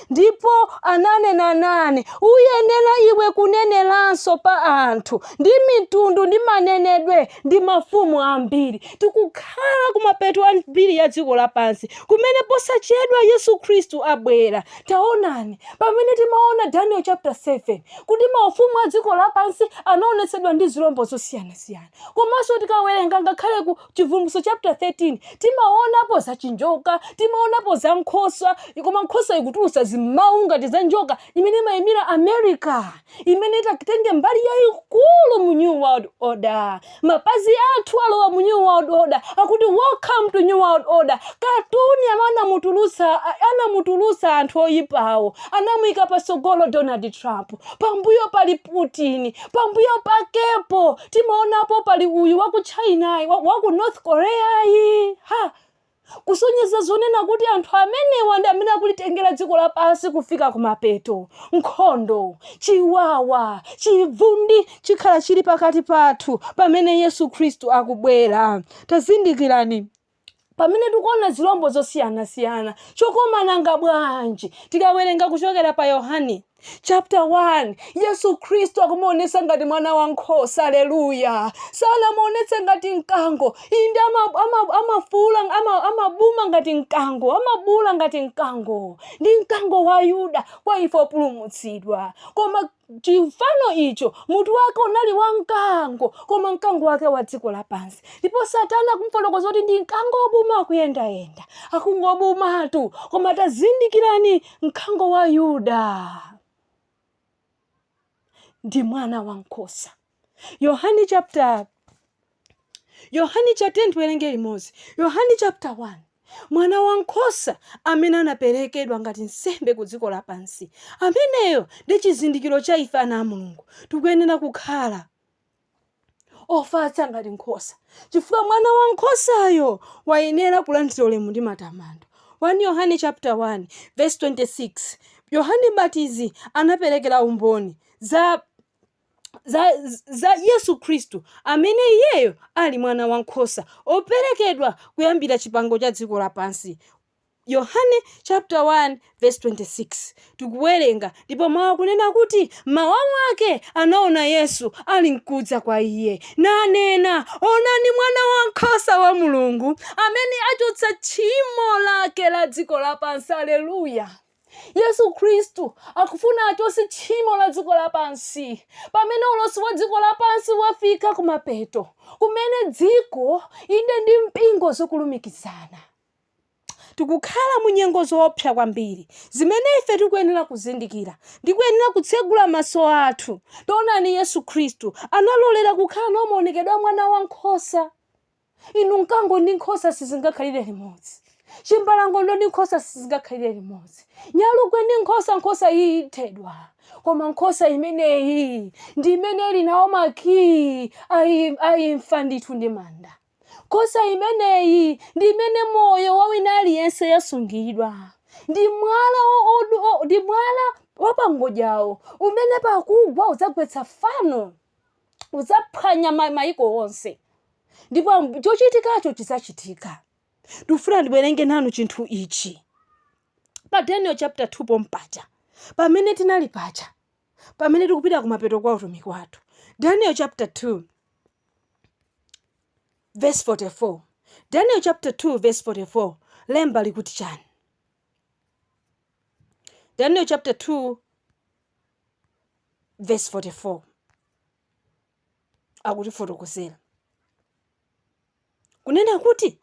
ndipo ananena nane, Uyenera iwe kuneneranso pa anthu ndi mitundu ndi manenedwe ndi mafumu ambiri. Tikukhala kumapeto a mbiri ya dziko lapansi kumene posachedwa Yesu Khristu abwera. Taonani, pamene timaona Daniel chapter 7 kuti maufumu a dziko lapansi anaonetsedwa ndi zilombo zosiyanasiyana, komanso tikawerenga ngakhale ku chivumbulutso chapter 13 timaonapo za chinjoka timaonapo za nkhosa koma nkhosa ikutulusa zimawu ngati za njoka imene imayimira america imene itatenge mbali yayikulu mu new world order mapazi athu alowa mu new world order akuti welcome to new world order katuni amene anamutulusa anamutulusa anthu oyipawo anamuyika patsogolo donald trump pambuyo pali putin pambuyo pakepo timaonapo pali uyu wa ku china yi, wa, wa ku north korea yi ha kusonyeza zonena kuti anthu amenewa ndi amene akulitengera dziko lapansi kufika kumapeto nkhondo chiwawa chivundi chikhala chili pakati pathu pamene yesu khristu akubwera tazindikirani pamene tikuona zilombo zosiyanasiyana chokoma nanga bwanji tikawerenga kuchokera pa yohane chapter 1 yesu khristu akumuonetsa ngati mwana wa nkhosa aleluya sanamuonetse ngati mkango inde ama- ama- amafuula ama- amabuma ngati mkango amabuula ngati mkango ndi mkango wa yuda kwa ife opulumutsidwa koma chifano icho mutu wake unali wa mkango koma mkango wake wa dziko lapansi ndipo satana akumfotokoza kuti ndi mkango wobuma akuyendayenda akungobumatu koma tazindikirani mkango wa yuda ndi mwana wa nkhosa yohane chapter yohane cha 10 tiwerenge limodzi yohane chapter 1 mwana wankhosa amene anaperekedwa ngati nsembe ku dziko lapansi ameneyo ndi chizindikiro cha ife ana a mulungu tikuyenera kukhala ofatsa ngati nkhosa chifukwa mwana wa nkhosayo wayenera kulandira ulemu ndi matamando 1 yohane chapter 1 verse 26 yohane mbatizi anaperekera umboni za za Yesu Khristu, amene Iyeyo ali Mwana wa nkhosa operekedwa kuyambira chipango cha dziko lapansi. Yohane chapter 1 verse 26 tikuwerenga, ndipo mawu akunena kuti mawa mwake anaona Yesu ali nkudza kwa iye, nanena, onani mwana wa nkhosa wa Mulungu amene achotsa tchimo lake la dziko lapansi. Aleluya! Yesu Khristu akufuna achotse tchimo la dziko lapansi pamene ulosi wa dziko lapansi wafika kumapeto kumene dziko inde ndi mpingo zikulumikizana tikukhala mu nyengo zoopsa kwambiri zimene ife tikuyenera kuzindikira ndi kuyenera kutsegula maso athu taonani yesu khristu analolera kukhala nawo maonekedwe a mwana wa nkhosa inu mkango ndi nkhosa sizingakhalire limodzi chimbalangondo ndi nkhosa sizingakhalire limodzi nyalugwe ndi nkhosa nkhosa iyi ithedwa koma nkhosa imeneyi ndi imene ili nawo makiyi ayi- ayimfa ndithu ndi manda nkhosa imeneyi ndi imene moyo wa wina aliyense yasungidwa ndi mwala wo- wodu- wo- ndi mwala wapangodyawo umene pakugwa udzagwetsa fano udzaphwanya ma- maiko onse ndipo am- chochitikacho chidzachitika ndikufuna ndiwerenge nanu chinthu ichi pa daniel chapter 2 pompaja pamene tinali paja pamene tikupita kumapeto kwa utumiki wathu daniel chapter 2 verse 44 daniel chapter 2 verse 44 lemba likuti chani daniel chapter 2 vesi 44 akutifotokozera kunena kuti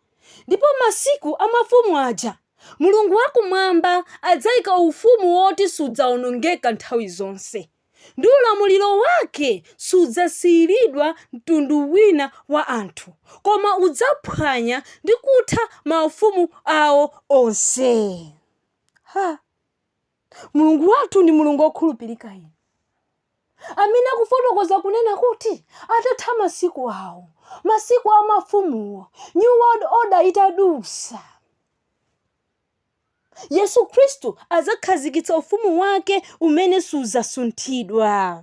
ndipo masiku a mafumu aja mulungu wakumwamba adzaika ufumu woti sudzaonongeka nthawi zonse ndi ulamuliro wake sudzasiyiridwa mtundu wina wa anthu koma udzaphwanya ndi kutha maufumu awo onse mulungu wathu ndi mulungu wokhulupirika inu amene akufotokoza kunena kuti atatha masiku awo masiku a mafumuwo new world order itadutsa yesu khristu adzakhazikitsa ufumu wake umene sudzasunthidwa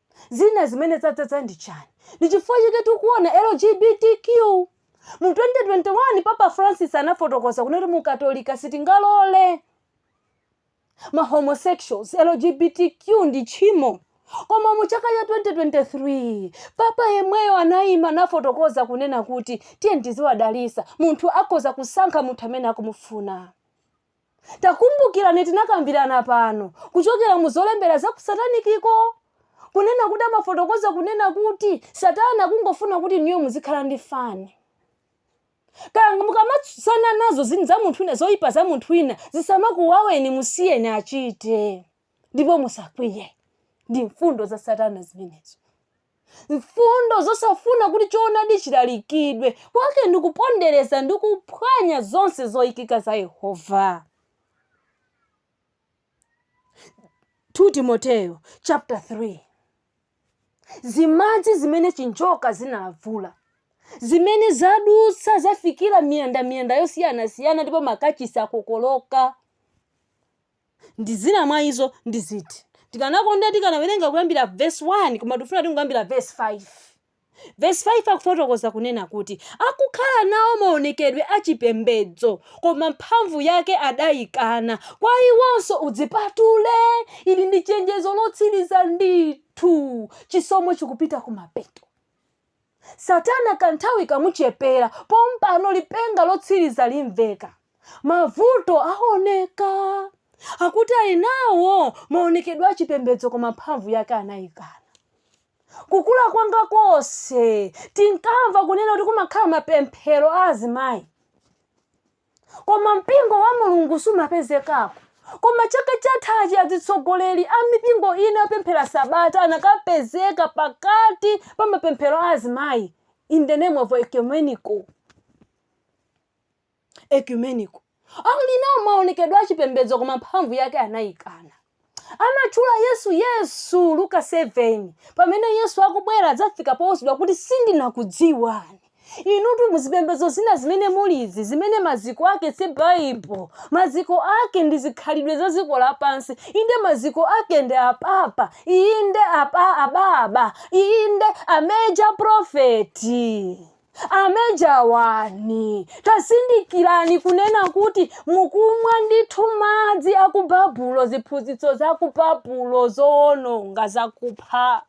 Zina zimene zadzadza ndi chani? Ndi chifukwa chake tikuona LGBTQ. Mu 2021 Papa Francis anafotokoza kunena kuti mu Katolika sitingalole ma homosexuals, LGBTQ ndi tchimo. Koma mu chaka cha 2023 Papa yemweyo anayima nafotokoza kunena kuti tiyeni tiziwadalitsa, munthu akhoza kusankha munthu amene akumufuna. Takumbukirani tinakambirana pano kuchokera mu zolembera za ku satanikiko kunena kuti amafotokoza kunena kuti satana kungofuna kuti inuyo muzikhala ndi fani kaya mukamatsutsana nazo zinthu za munthu wina zoyipa za munthu wina zisamakuwaweni musiyeni achite ndipo musakwiye ndi mfundo za satana zimenezo Mfundo zosafuna kuti choonadi chilalikidwe kwake ndi kupondereza ndi kuphwanya zonse zoikika za Yehova. 2 Timoteyo chapter 3 zimadzi zimene chinjoka zinalavula zimene zadutsa zafikira miyandamiyanda yosiyanasiyana ndipo makachisi akokoloka Ndi zina mwa izo ndi ziti? Tikanakonda tikanawerenga kuyambira vesi 1, koma tikufuna tingoyambira vesi 5. Vesi 5 akufotokoza kunena kuti, Akukhala nawo maonekedwe a chipembedzo, koma mphamvu yake adaikana, kwa iwonso udzipatule. Ili ndi chenjezo lotsiriza ndithu. Chisomo chikupita kumapeto. Satana kanthawi kamuchepera, pompano lipenga lotsiriza limveka. Mavuto awoneka. Akuti ali nawo maonekedwe a chipembedzo koma mphamvu yake anaikana. Kukula kwanga konse tinkamva kunena kuti kumakhala mapemphero a azimayi. koma mpingo wa mulungu sumapezekako koma chaka chathachi azitsogoleri a mipingo ina yopemphera sabata anakapezeka pakati pa mapemphero a azimayi in the name of ecumenical ecumenical akuti ali nawo maonekedwe achipembedzo koma mphamvu yake anayikana Amatchula Yesu Yesu, Luka 7, pamene Yesu akubwera adzafika powuzidwa kuti sindinakudziwani. Inutu mu zipembedzo zina zimene mulizi, zimene maziko ake si Baibulo, maziko ake ndi zikhalidwe za dziko lapansi, inde maziko ake ndi apapa, inde ababa, inde a major prophet. Ameja wani, tazindikirani kunena kuti mukumwa ndithu madzi aku Babulo, ziphunzitso zaku Babulo zowononga, zakupha.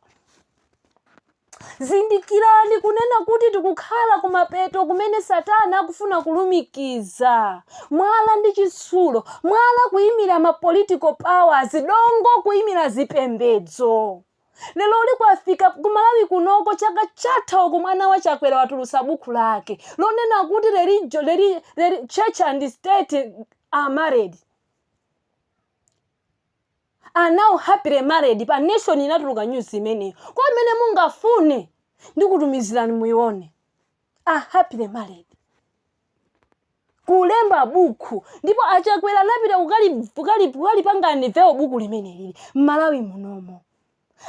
Zindikirani kunena kuti tikukhala kumapeto kumene Satana akufuna kulumikiza mwala ndi chitsulo, mwala kuyimira ma political powers, dongo kuyimira zipembedzo. lero uli kwafika kumalawi kunoko chaka chatha uku mwana wa chakwera watulutsa buku lake lonena kuti reli, reli, church and state are married are now happily married pa nation inatuluka news imeneyo kwa amene mungafune ndikutumizirani muione are happily married kulemba bukhu ndipo achakwera anapita kukali- kukali- kukalipanga nivewo buku limenelili m'malawi munomo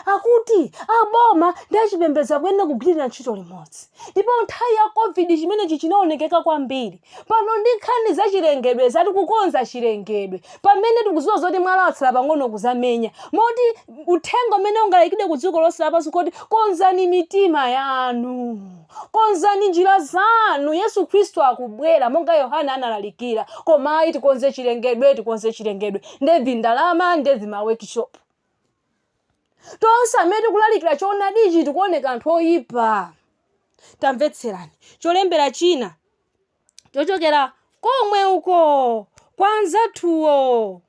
akuti a boma ndi a chipembedzo akuyenera kugwirira ntchito limodzi ndipo nthawi ya covid chimenechi chinaonekeka kwambiri pano ndi nkhani za chilengedwe zati kukonza chilengedwe pamene tikuziwa zoti mwala watsala pang'ono kuzamenya moti uthenga umene ungalayikidwe ku dziko lonse lapansi kuti konzani mitima yanu Konzani njira zanu, Yesu Khristu akubwera, monga Yohane analalikira. Koma ayi, tikonze chilengedwe, tikonze chilengedwe. Nde vi ndalama, nde vi ma workshop. Tonse amene tikulalikira choonadichi tikuoneka anthu oyipa. Tamvetserani cholembera china chochokera komwe uko kwa anzathuwo.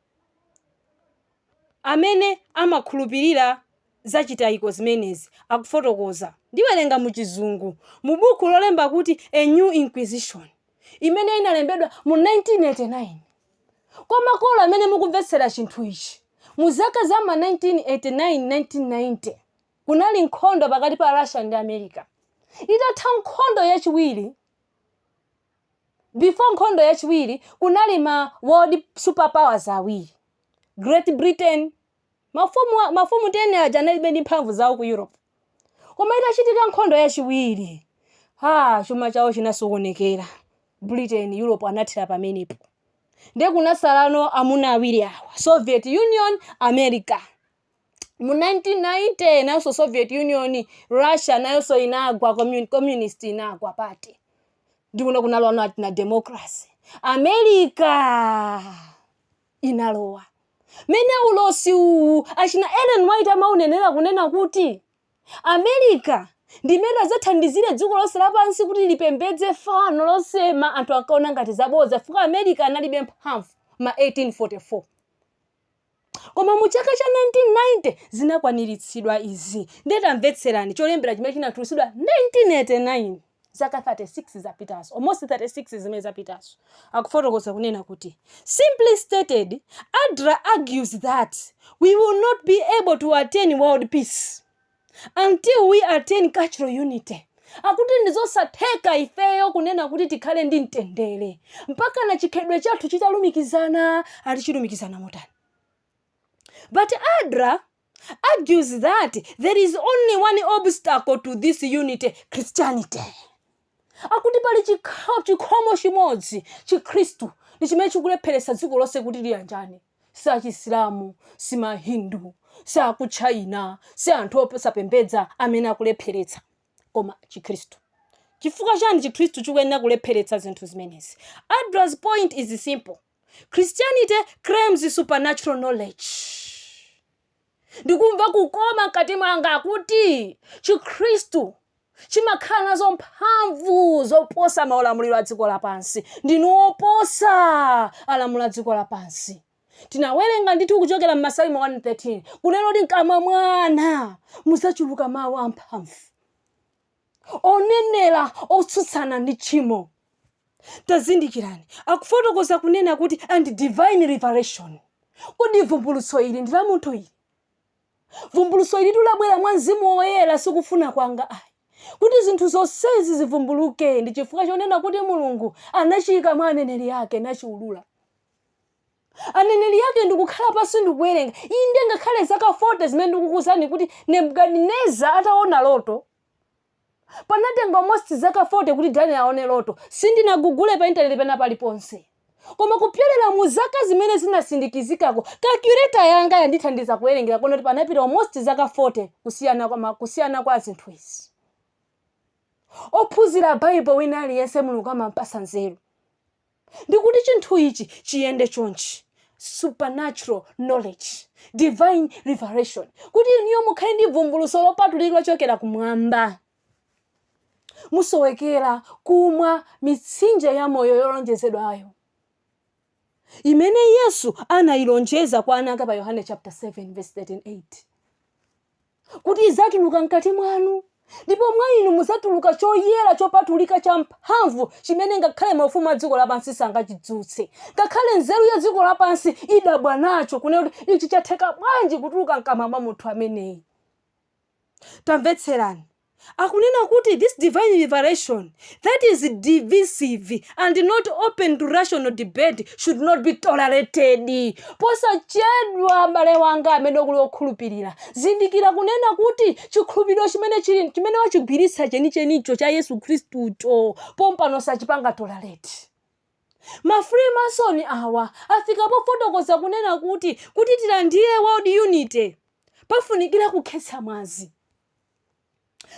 amene amakhulupirira za chitayiko zimenezi akufotokoza. Ndiwerenga mu Chizungu, mu bukhu lolemba kuti A New Inquisition, imene inalembedwa mu 1989. Kwa makolo amene mukumvetsera chinthu ichi, mu zaka za ma 1989, 1990, kunali nkhondo pakati pa Russia ndi America. Itatha nkhondo yachiwiri, before nkhondo yachiwiri, kunali ma world superpowers awiri. Great Britain. Mafumu, wa- mafumu 10 aja analibe ndi mphamvu zawo ku Europe. Koma itachitika nkhondo yachiwiri, ha, chuma chawo chinasokonekera. Britain, Europe anathera pamenepo. Ndiye kunasalano amuna awiri awa, Soviet Union, America. mu 1990 nayonso soviet union russia nayonso inagwa commun- communist inagwa pati ndikuno kunalwana ati na democracy america inalowa. Mmene ulosi uwu achina Ellen White amaunenera kunena kuti America ndi imene adzathandizire dziko lonse lapansi kuti lipembedze fano losema anthu ankaona ngati zabodza chifukwa America analibe mphamvu ma 1844. Koma mu chaka cha 1990 zinakwaniritsidwa izi. Ndiye tamvetserani cholembera chimene chinatulusidwa 1989. zaka 36 zapitazo, almost 36 zimene zapitazo, akufotokoza kunena kuti simply stated adler argues that we will not be able to attain world peace until we attain cultural unity akuti ndizosatheka ifeyo kunena kuti tikhale ndi mtendere mpakana chikhalidwe chathu chitalumikizana ati chilumikizana motani but adler argues that there is only one obstacle to this unity, Christianity. akuti pali chikha- chikhomo chimodzi chikhristu ndi chimene chikulepheretsa dziko lonse kuti liyanjane si achisilamu si mahindu si akuchina si anthu osapembedza amene akulepheretsa koma chikhristu chifukwa chani chikhristu chikuyenera kulepheretsa zinthu zimenezi adra's point is simple christianity claims supernatural knowledge ndikumva kukoma mkati mwanga akuti chikhristu chimakhala nazo mphamvu zoposa maulamuliro a dziko lapansi ndinu oposa alamuliro a dziko lapansi tinawerenga ndithu kuchokera m'masalimo 113 kunena kuti mkamwa mwana muzachuluka mawu amphamvu onenera otsutsana ndi tchimo tazindikirani akufotokoza kunena kuti and divine revelation kodi vumbulutso ili ndi la munthu ili vumbulutso ili likubwera mwa mzimu woyera sikufuna kwanga ayi kuti zinthu zonsezi zivumbuluke ndi chifukwa chonena kuti mulungu anachiyika mwa aneneri ake nachiulula Aneneri ake ndikukhala pansi ndikuwerenga. Inde, ngakhale zaka 40 zimene ndikukuuzani kuti Nebukadineza ataona loto, panatenga almost zaka 40 kuti Daniel aone loto. Sindinagugule pa intaneti pena paliponse. Koma kupyolera mu zaka zimene zinasindikizikako, calculator yanga yandithandiza kuwerengera kuona kuti panapita almost zaka 40 kusiyana kwa, kusiyana kwa zinthu izi. Ophunzira Baibulo wina aliyense Mulungu amampatsa nzeru. ndi kuti chinthu ichi chiyende chonchi supernatural knowledge divine revelation kuti inuyo mukhale ndi vumbuluso lopatulika lochokera kumwamba musowekera kumwa mitsinje ya moyo yolonjezedwayo imene yesu anayilonjeza kwa ana ake pa yohane chapter 7 verse 38 kuti idzatuluka mkati mwanu, ndipo mwa inu mudzatuluka choyera chopatulika champhamvu chimene ngakhale maufumu a dziko lapansi sangachitsutse. Ngakhale nzeru ya dziko lapansi idzadabwa nacho, kunena kuti, Ichi chatheka bwanji kutuluka m'kamwa mwa munthu ameneyi? Tamvetserani. Akunena kuti this divine revelation that is divisive and not open to rational debate should not be tolerated posachedwa m'bale wanga amene ukuli okhulupirira zindikira kunena kuti chikhulupiriro chimene wachigwiritsa chenichenicho cha yesu khristucho pompano sachipanga tolerate ma freemason awa afika pofotokoza kunena kuti kuti tilandire world unity pafunikira kukhetsa mwazi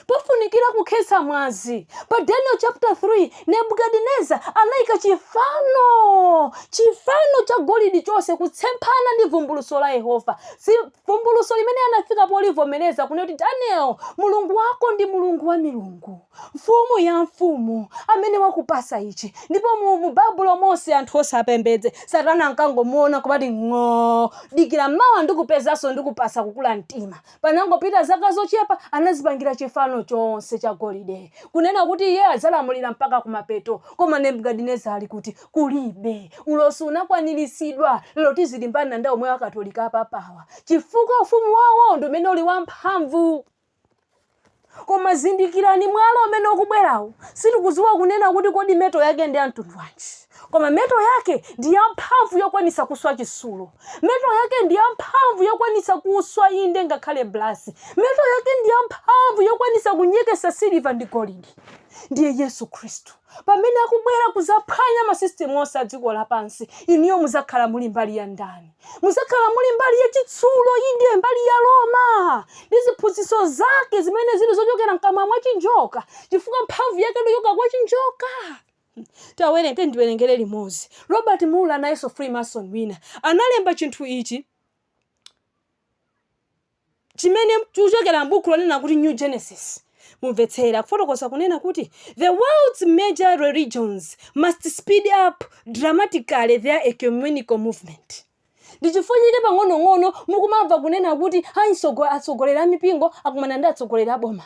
pofunikira kukhetsa mwazi pa daniel chapter 3 nebukadineza anayika chifano chifano cha golidi chonse kutsemphana ndi vumbuluso la yehova si vumbuluso limene anafika polivomereza kunena kuti daniel mulungu wako ndi mulungu wa milungu mfumu ya mafumu amene wakupasa ichi ndipo mu, mu babulo monse anthu onse apembedze satana ankangomuona kumati ng'oo dikira mawa ndikupezanso ndikupasa kukula mtima Panangopita zaka zochepa, anadzipangira chifano chonse chagolide, kunena kuti iye adzalamulira mpaka kumapeto. Koma Nebukadinezara ali kuti? Kulibe. Ulosi unakwaniritsidwa. Lero tizilimbana ndi omwe akatolika apapawa chifukwa ufumu wawo ndo umene uli wamphamvu. Koma zindikirani, mwala umene ukubwerawo, sitikudziwa kunena kuti kodi metal yake ndi ya mtundu wanji. Koma metal yake ndi yamphamvu yokwanitsa kuswa chitsulo. Metal yake ndi yamphamvu yokwanitsa kuswa inde ngakhale brass. Metal yake ndi yamphamvu yokwanitsa kunyeketsa siliva ndi golidi. Ndiye Yesu Khristu. Pamene akubwera kuzaphwanya ma system onse a dziko lapansi, inuyo muzakhala muli mbali ya ndani? Muzakhala muli mbali ya chitsulo, inde, mbali ya Roma ndi ziphunzitso zake zimene zili zochokera mkamwa mwa chinjoka, chifukwa mphamvu yake ndochoka kwa chinjoka. Tawerenga tiyeni tiwerengere limodzi. Robert Muller nayenso Freemason wina analemba chinthu ichi. chimene chikuchokera m'bukhu lonena kuti New Genesis, mumvetsere, akufotokoza kunena kuti, The world's major religions must speed up dramatically their ecumenical movement. Ndi chifukwa chake pang'onong'ono mukumamva kunena kuti a itsogo atsogoleri a mipingo akumana ndi atsogoleri a boma.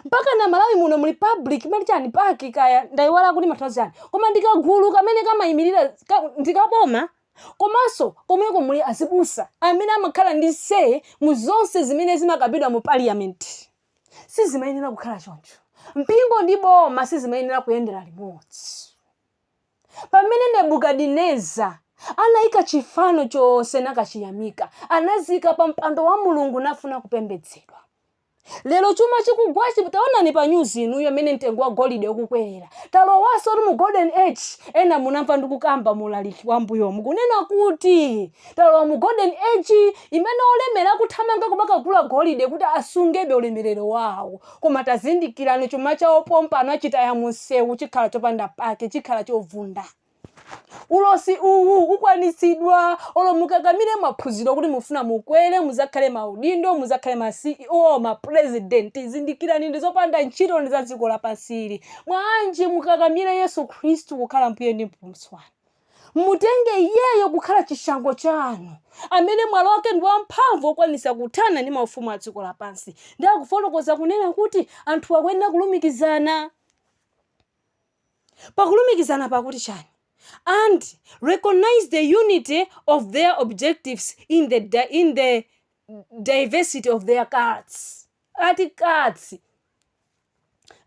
mpaka m'malawi muno muli public mali chani PAC kaya ndayiwala kuti imatanthauzanji koma ndikagulu kamene kamayimirira ka- ndikaboma komanso komweko muli azibusa amene amakhala ndi say mu zonse zimene zimakambidwa mu parliament sizimayenera kukhala choncho mpingo ndi boma sizimayenera kuyendera limodzi pamene nebukadineza anayika chifano chonse nakachiyamika anazika pa mpando wa mulungu nafuna kupembedzedwa Lero chuma chikugwachi taonani pa news inuyo mmene mtengo wa golide ukukwerera. Talowansotu mu golden age. Ena munamva ndikukamba mu ulaliki wa mmbuyomu kunena kuti talowa mu golden age imene olemera akuthamanga kumakagula golide kuti asungebe ulemerero wawo. Koma tazindikirani chuma chawo pompano achitaya mumsewu chikhala chopanda pake, chikhala chovunda. Ulosi uwu ukwanitsidwa olo mukakamire maphunziro kuti mufuna mukwere muzakhale maudindo muzakhale ma ceo ma president zindikirani ndizopanda ntchito ndi za dziko lapansi ili bwanji mukakamire yesu khristu kukhala mbuye ndi mpulumutsi wanu mutenge iyeyo kukhala chishango chanu amene mwalo wake ndi wamphamvu okwanisa kuthana ndi mafumu a dziko lapansi ndi akufotokoza kunena kuti anthu akuyenera kulumikizana pa kulumikizana pa kuti chani and recognise the unity of their objectives in the in the diversity of their cults ati cults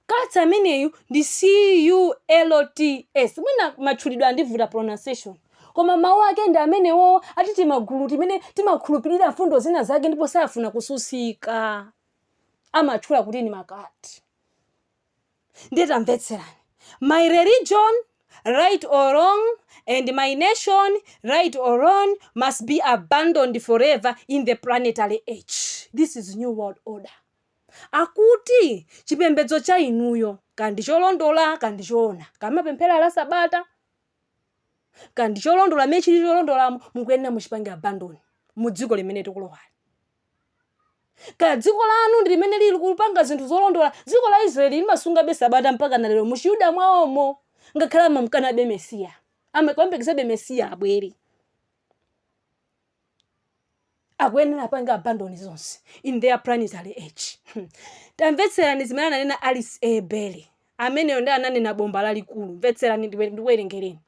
cults ameneyu ndi C U L T S mwina matchulidwe andivuta pronunciation koma mawu ake ndi amenewo ati timagulu timene timakhulupirira mfundo zina zake ndipo safuna kususika amatchula kuti ndi ma cult ndiye tamvetserani my religion right or wrong and my nation right or wrong must be abandoned forever in the planetary age this is new world order akuti chipembedzo cha inuyo kaya ndi cholondola kaya ndi choona kaya mapemphera la sabata kaya ndi cholondola mene chili cholondolamo mukuyenera muchipange abandon mu dziko limene tikulowali Kaya dziko lanu ndi limene lili kupanga zinthu zolondola, dziko la Israeli limasungabe Sabata mpakana lero mu Chiyuda mwawomo, ngakhale amamkanabe Mesiya, amamuyembekezabe Mesiya abwere. akuyenera apange abandon zonse in the planetary age tamvetserani zimene ananena Alice A Bailey ameneyo ndiye ananena bomba lalikulu mvetserani ndiwe- ndiwerengereni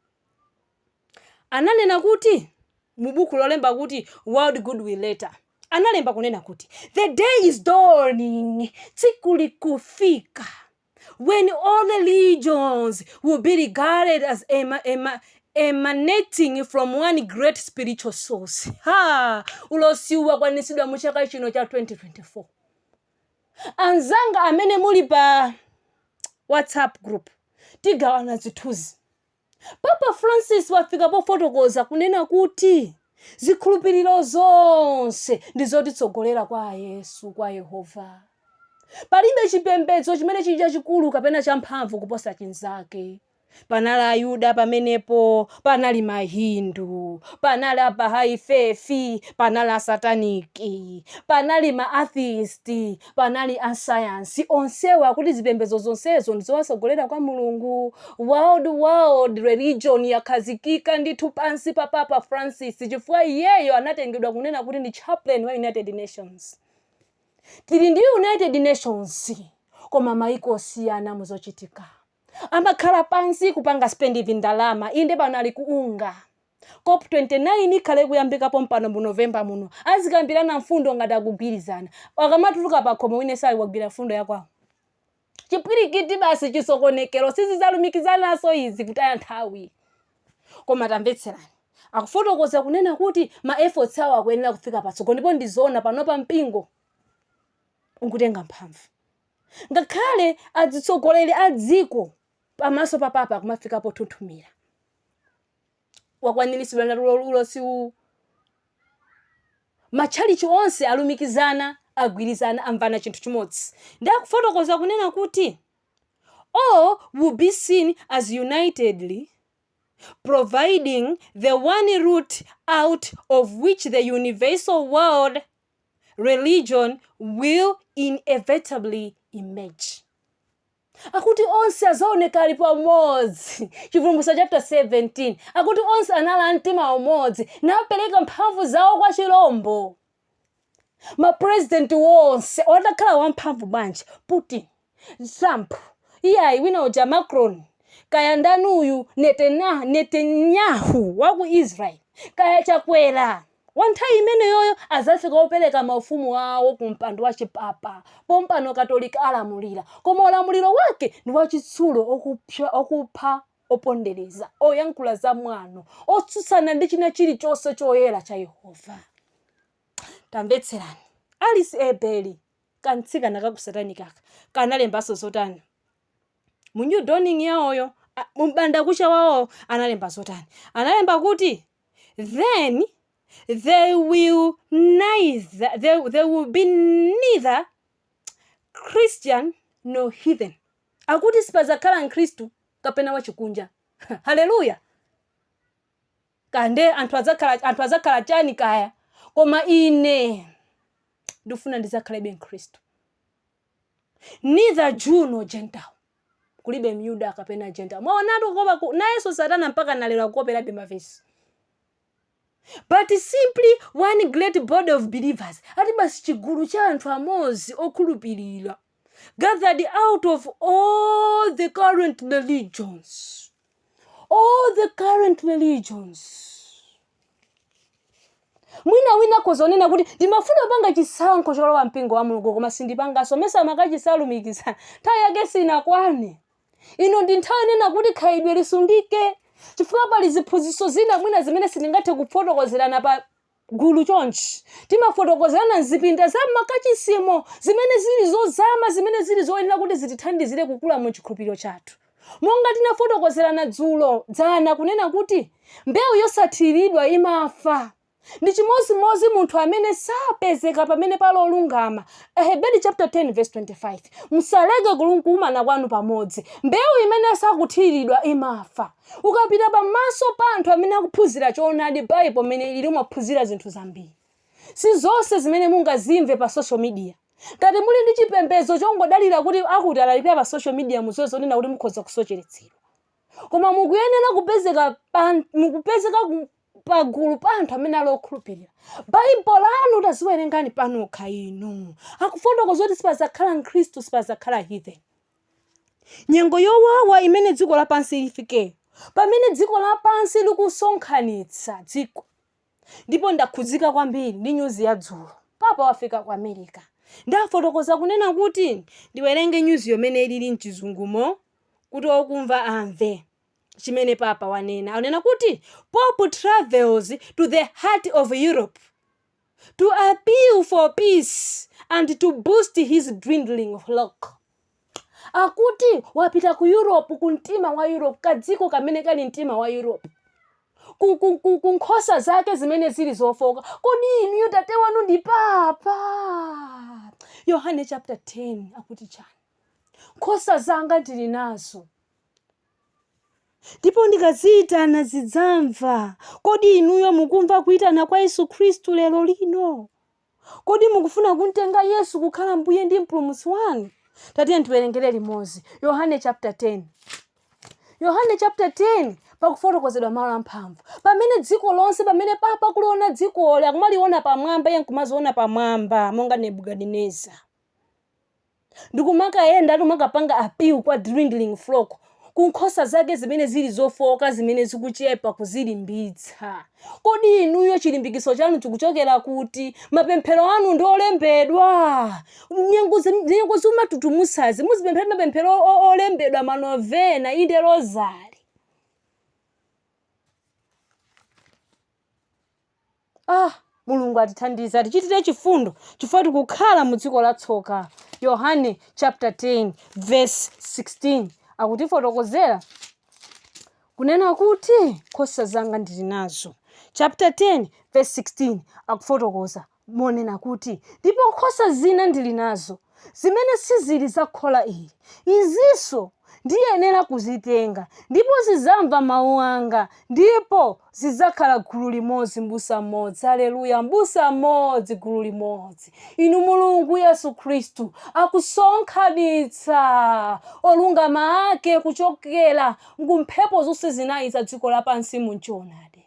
ananena kuti, mu buku lolemba kuti World Goodwill Letter, analemba kunena kuti, The day is dawning, tsiku likufika, when all religions will be regarded as ema, ema, emanating from one great spiritual source. Ha! Ulosiwu wakwanitsidwa mu chaka chino cha 2024. Anzanga amene muli pa WhatsApp group tigawana zithunzi. Papa Francis wafika pofotokoza kunena kuti zikhulupiriro zonse ndi zotitsogolera kwa Yesu, kwa Yehova. Palibe chipembedzo chimene chili chachikulu kapena champhamvu kuposa chinzake. Panali Ayuda pamenepo, panali Mahindu, panali a Bahai Faith, panali Asataniki, panali ma atheist, Panali asayansi onsewo akuti zipembedzo zonsezo ndi zowatsogolera kwa Mulungu. World World Religion yakhazikika ndithu pansi pa Papa Francis chifukwa iyeyo anatengedwa kunena kuti ndi chaplain wa United Nations. Tili ndi United Nations koma maiko osiyana muzochitika. Amakhala pansi kupanga spend vindalama inde pano ali ku unga. Cop 29 ikhala ikuyambika pompano mu November muno. Azikambirana mfundo ngati akugwirizana. Akamatuluka pakhomo wina aliyense wagwira mfundo ya kwawo. Chipwirikiti basi chisokonekero sizizalumikizananso izi kutaya nthawi. Koma tamvetserani. Akufotokoza kunena kuti ma efforts awo akuyenera kufika patsogolo ndipo ndi zoona panopa mpingo ukutenga mphamvu. Ngakhale adzitsogoleri a dziko pamaso pa Papa kumafika pothunthumira. Wakwaniritsidwa ndi ulo- ulosi uwu. Matchalichi onse alumikizana, agwirizana, amvana chinthu chimodzi. Ndi akufotokoza kunena kuti all will be seen as unitedly providing the one route out of which the universal world religion will inevitably emerge. Akuti onse azaoneka ali pamodzi. Chivumbulutso chapter 17. Akuti onse anali a mtima umodzi napereka mphamvu zawo kwa chilombo. Ma president onse atakhala wamphamvu bwanji Putin. Trump iyayi, wina uja Macron, kaya ndani uyu Netanyahu wa ku Israel, kaya Chakwera wa nthawi imeneyoyo azafika opereka maufumu awo ku mpando wa chipapa. Pompano Katolika alamulira, koma ulamuliro wake ndi wachitsulo, okupha, opondereza, oyankhula za mwano, otsutsana ndi china chilichonse choyera cha Yehova. Tamvetserani, Alice A. Bailey, kamtsikana ka ku satanic aka kanalembanso zotani mu new dawning yawoyo a- mu m'bandakucha wawowo analemba zotani analemba kuti then there will be neither christian nor heathen akuti sipazakhala mkhristu kapena wachikunja haleluya kaya nde anthu adzakhala anthu adzakhala chani kaya koma ine ndikufuna ndidzakhalebe mkhristu neither jew nor gentile kulibe myuda kapena gentile mwaonatu kukopa nayenso satana mpaka nalero akukoperabe mavesi but simply one great body of believers ati basi chigulu cha anthu amodzi okhulupirira gathered out of all the current religions all the current religions mwina wina akhoza kunena kuti ndimafuna kupanga chisankho cholowa mpingo wa mulungu koma sindipanganso mesa amakachisalumikiza nthawi yake sinakwane ino ndi nthawi kunena kuti khalidwe lisungike chifukwa pali ziphunzitso zina mwina zimene sindingathe kufotokozerana pa gulu chonchi. Timafotokozerana m'zipinda za m'makachisimo zimene zili zozama zimene zili zoyenera kuti zitithandizire kukula mu chikhulupiriro chathu. Monga tinafotokozerana dzulo, dzana, kunena kuti mbewu yosathiridwa imafa. Ndi chimodzimodzi munthu amene sapezeka pamene pali olungama. Aheberi chaputala 10 vesi 25. Musaleke kukumana kwanu pamodzi. Mbewu imene sakuthiridwa imafa. Ukapita pa maso pa anthu amene akuphunzira choonadi Bible mmene ilili umaphunzira zinthu zambiri. Sizonse zimene mungazimve pa social media. Ngati muli ndi chipembedzo chongodalira kuti akuti alalikira pa social media mudziwe zonena kuti mukhoza kusocheretsedwa. Koma mukuyenera kupezeka mukupezeka pagulu pa anthu amene ali okhulupirira. Bible lanu taziwerengani panokha inu. Akufotokoza kuti sipadzakhala Mkhristu, sipadzakhala heathen. nyengo yowawa imene dziko lapansi lifikeyo pamene dziko lapansi likusonkhanitsa dziko ndipo ndakhudzika kwambiri ndi nyuzi ya dzulo papa wafika ku america ndafotokoza kunena kuti ndiwerenge nyuzi yo mmene ilili mchizungumo kuti okumva amve chimene papa wanena anena kuti pope travels to the heart of europe to appeal for peace and to boost his dwindling flock. Akuti wapita ku Europe ku mtima wa Europe kadziko kamene kali mtima wa Europe. Ku nkhosa zake zimene zili zofooka. Kodi inuyo tate wanu ndi papa? Yohane chapter 10 akuti chani? Nkhosa zanga ndili nazo. Ndipo ndikaziitana zidzamva. Kodi inuyo mukumva kuitana kwa Yesu Khristu lero lino? Kodi mukufuna kumtenga Yesu kukhala mbuye ndi mpulumutsi wanu? Tatiyeni tiwerengere limodzi. Yohane chapter 10. Yohane chapter 10 pakufotokozedwa malo amphamvu. Pamene dziko lonse, pamene papa akuliona dzikoli, akumaliona pamwamba, iye nkumaziona pamwamba, monga Nebukadinezara. ndikumakayenda kumakapanga appeal kwa dwindling flock ku nkhosa zake zimene zili zofooka zimene zikuchepa kuzilimbitsa kodi inuyo chilimbikitso chanu chikuchokera kuti mapemphero anu ndi olembedwa nyengo zi- nyengo zomatutumutsazi muzipemphera mapemphero o- o- olembedwa manovena inde rozari mulungu atithandize atichitire chifundo chifukwa tikukhala mu dziko la tsoka yohane chapter 10 verse 16 akutifotokozera kunena kuti nkhosa zanga ndili nazo chapter 10 verse 16 akufotokoza monena kuti ndipo nkhosa zina ndili nazo zimene sizili za khola ili, izinso ndiyenera kuzitenga, ndipo zidzamva mawu anga, ndipo zidzakhala gulu limodzi, m'busa mmodzi. Aleluya! M'busa mmodzi, gulu limodzi. Inu Mulungu, Yesu Khristu akusonkhanitsa olungama Ake kuchokera ku mphepo zonse zinayi za dziko lapansi mu choonadi.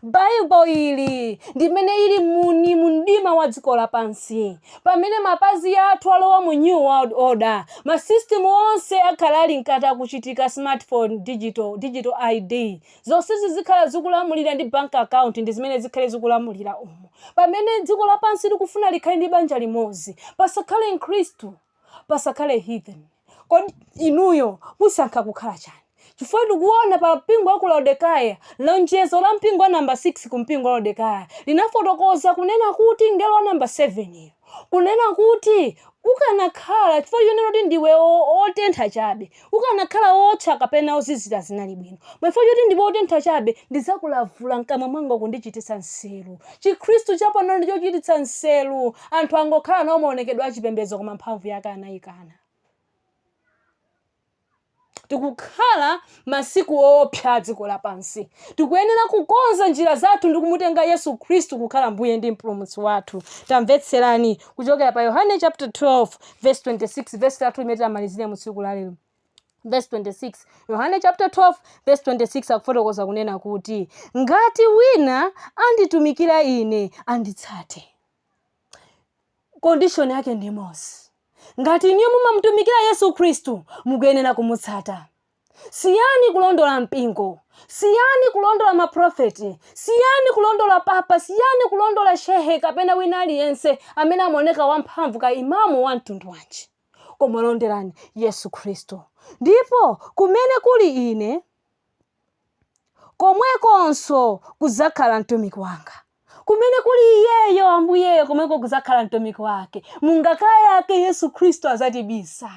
Baibo ili ndi imene ili muni mu mdima wa dziko lapansi. Pamene mapazi athu alowa mu New World Order, ma system onse akhala ali mkati akuchitika, smartphone, digital, digital ID, zonsezi zikhala zikulamulira ndi bank account ndi zimene zikhale zikulamulira umo. Pamene dziko lapansi likufuna likhale ndi banja limodzi, pasakhale mkhristu. pasakhale heathen kodi inuyo musankha kukhala chani chifukwa tikuona pa mpingo wa ku laodekaya lonjezo la mpingo wa namba 6 ku mpingo wa laodekaya linafotokoza kunena kuti mngelo wa namba 7 yo kunena kuti ukanakhala chifukwa chonena kuti ndiwe o- otentha chabe Ukanakhala wootcha kapena wozizira zinali bwino. Koma chifukwa choti ndiwe wotentha chabe, ndidzakulavula m'kamwa mwanga kundichititsa nseru. Chikhristu chapano ndi chochititsa nseru. Anthu angokhala nawo maonekedwe a chipembedzo koma mphamvu yake anaikana. Tikukhala masiku oopsa a dziko lapansi. Tikuyenera kukonza njira zathu ndi kumutenga Yesu Khristu kukhala Mbuye ndi Mpulumutsi wathu. Tamvetserani, kuchokera pa yohane chapter 12 verse 26 verse lathu limene tamalizire mu tsiku la lero verse 26 yohane chapter 12 verse 26 akufotokoza kunena kuti ngati wina anditumikira ine anditsate condition yake ndi imodzi ngati inuyo mumamutumikira yesu khristu mukuyenera kumutsata Siyani kulondola mpingo, siyani kulondola maprofeti, siyani kulondola papa, siyani kulondola shehe kapena wina aliyense amene amaoneka wamphamvu kaya imamu wa mtundu wanji, koma londerani Yesu Khristu. Ndipo kumene kuli ine, komwekonso kudzakhala mtumiki wanga. Kumene kuli iyeyo, Ambuyeyo, komweko kudzakhala mtumiki wake. Mungaka yake Yesu Khristu adzatibisa.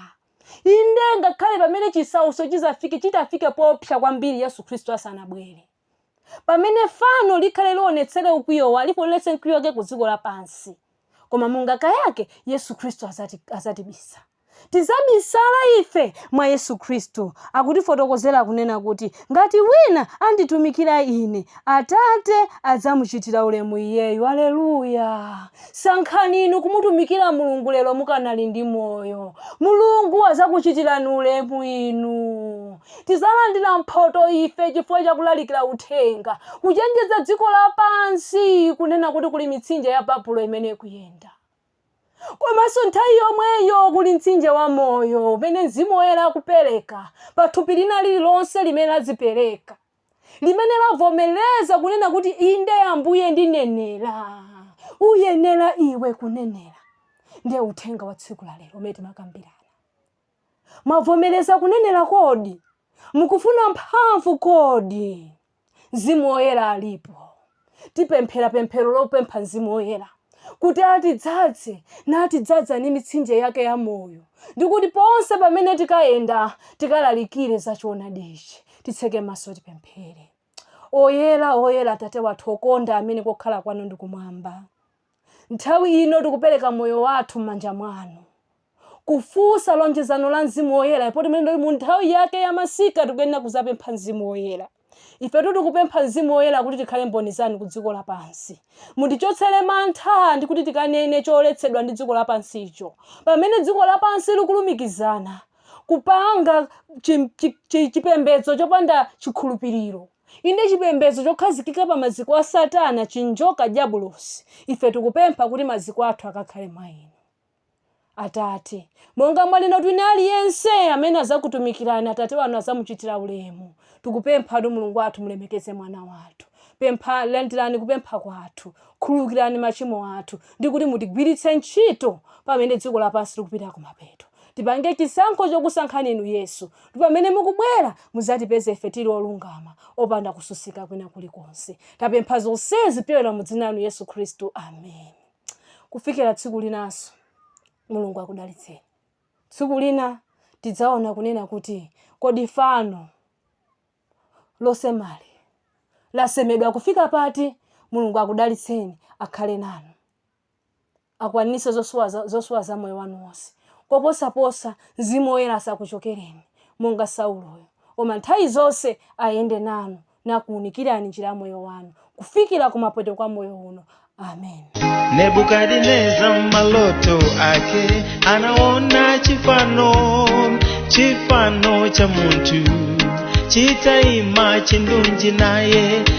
Inde, ngakhale pamene chisautso chidzafike, chitafike poopsa kwambiri Yesu Khristu asanabwere. Pamene fano likhale lionetsere ukwiyo wa, lionetse mkwiyo wake ku dziko lapansi. Koma mungaka yake Yesu Khristu adzati, adzatibisa. Tizabisala ife mwa Yesu Khristu, akutifotokozera kunena kuti, ngati wina anditumikira ine, Atate adzamuchitira ulemu iyeyu. Aleluya! Sankhani inu kumutumikira Mulungu lero mukanali ndi moyo. Mulungu adzakuchitirani ulemu inu. Tizalandira mphoto ife chifukwa cha kulalikira uthenga, kuchenjeza dziko lapansi kunena kuti kuli mitsinje ya Babulo imene ikuyenda. Komanso nthawi yomweyo kuli mtsinje wa moyo umene Mzimu Woyera akupereka pa thupi lina lililonse limene lazipereka, limene lavomereza kunena kuti inde Ambuye ndinenera. Uyenera iwe kunenera. Ndiye uthenga wa tsiku la lero umene timakambirana. Mwavomereza kunenera kodi? Mukufuna mphamvu kodi? Mzimu Woyera alipo. Tipemphera pemphero lopempha Mzimu Woyera kuti atidzadze natidzadza ndi mitsinje yake ya moyo ndi kuti ponse pamene tikayenda tikalalikire za choonadi ichi. Titseke maso tipemphere. Oyera, oyera, Tate wathu okonda amene kokhala kwanu ndi kumwamba. Nthawi ino tikupereka moyo wathu m'manja mwanu. Kufunsa lonjezano la Mzimu Woyera, poti mmene ndi mu nthawi yake ya masika tikuyenera kuzapempha Mzimu Woyera. Ifetu tikupempha Mzimu Woyera kuti tikhale mboni zanu ku dziko lapansi. Mutichotsere mantha ndi kuti tikanene choletsedwa ndi dziko lapansicho. Pamene dziko lapansi likulumikizana kupanga chi- chi- chi- chipembedzo chopanda chikhulupiriro. Inde, chipembedzo chokhazikika pa maziko a Satana, chinjoka, dyabulosi, ife tikupempha kuti maziko athu akakhale mwa Inu. Atate, monga mwanena kuti wina aliyense amene adzakutumikirani, Atate anu adzamuchitira ulemu, tikupempha kuti Mulungu wathu mulemekeze mwana wathu. Pempha, landirani kupempha kwathu, khululukirani machimo athu, ndi kuti mutigwiritse ntchito pamene dziko lapansi likupita kumapeto. Tipange chisankho chokusankhani Inu, Yesu, kuti pamene mukubwera mudzatipeze ife tiri olungama, opanda kususika kwina kulikonse. Tapempha zonsezi kupyolera mu Dzina Lanu, Yesu Khristu. Ameni. Kufikira tsiku linanso, Mulungu akudalitseni. Tsiku lina tidzaona kunena kuti kodi fano losema lija lasemedwa kufika pati? Mulungu akudalitseni, akhale nanu. akwaniritse zosowa za- zosowa za moyo wanu wonse koposaposa mzimu woyera asakuchokereni monga sauloyo koma nthawi zonse ayende nanu nakuunikirani njira ya moyo wanu kufikira kumapeto kwa moyo uno amen nebukadineza maloto ake anaona chifano chifano cha munthu chitaima chindunji naye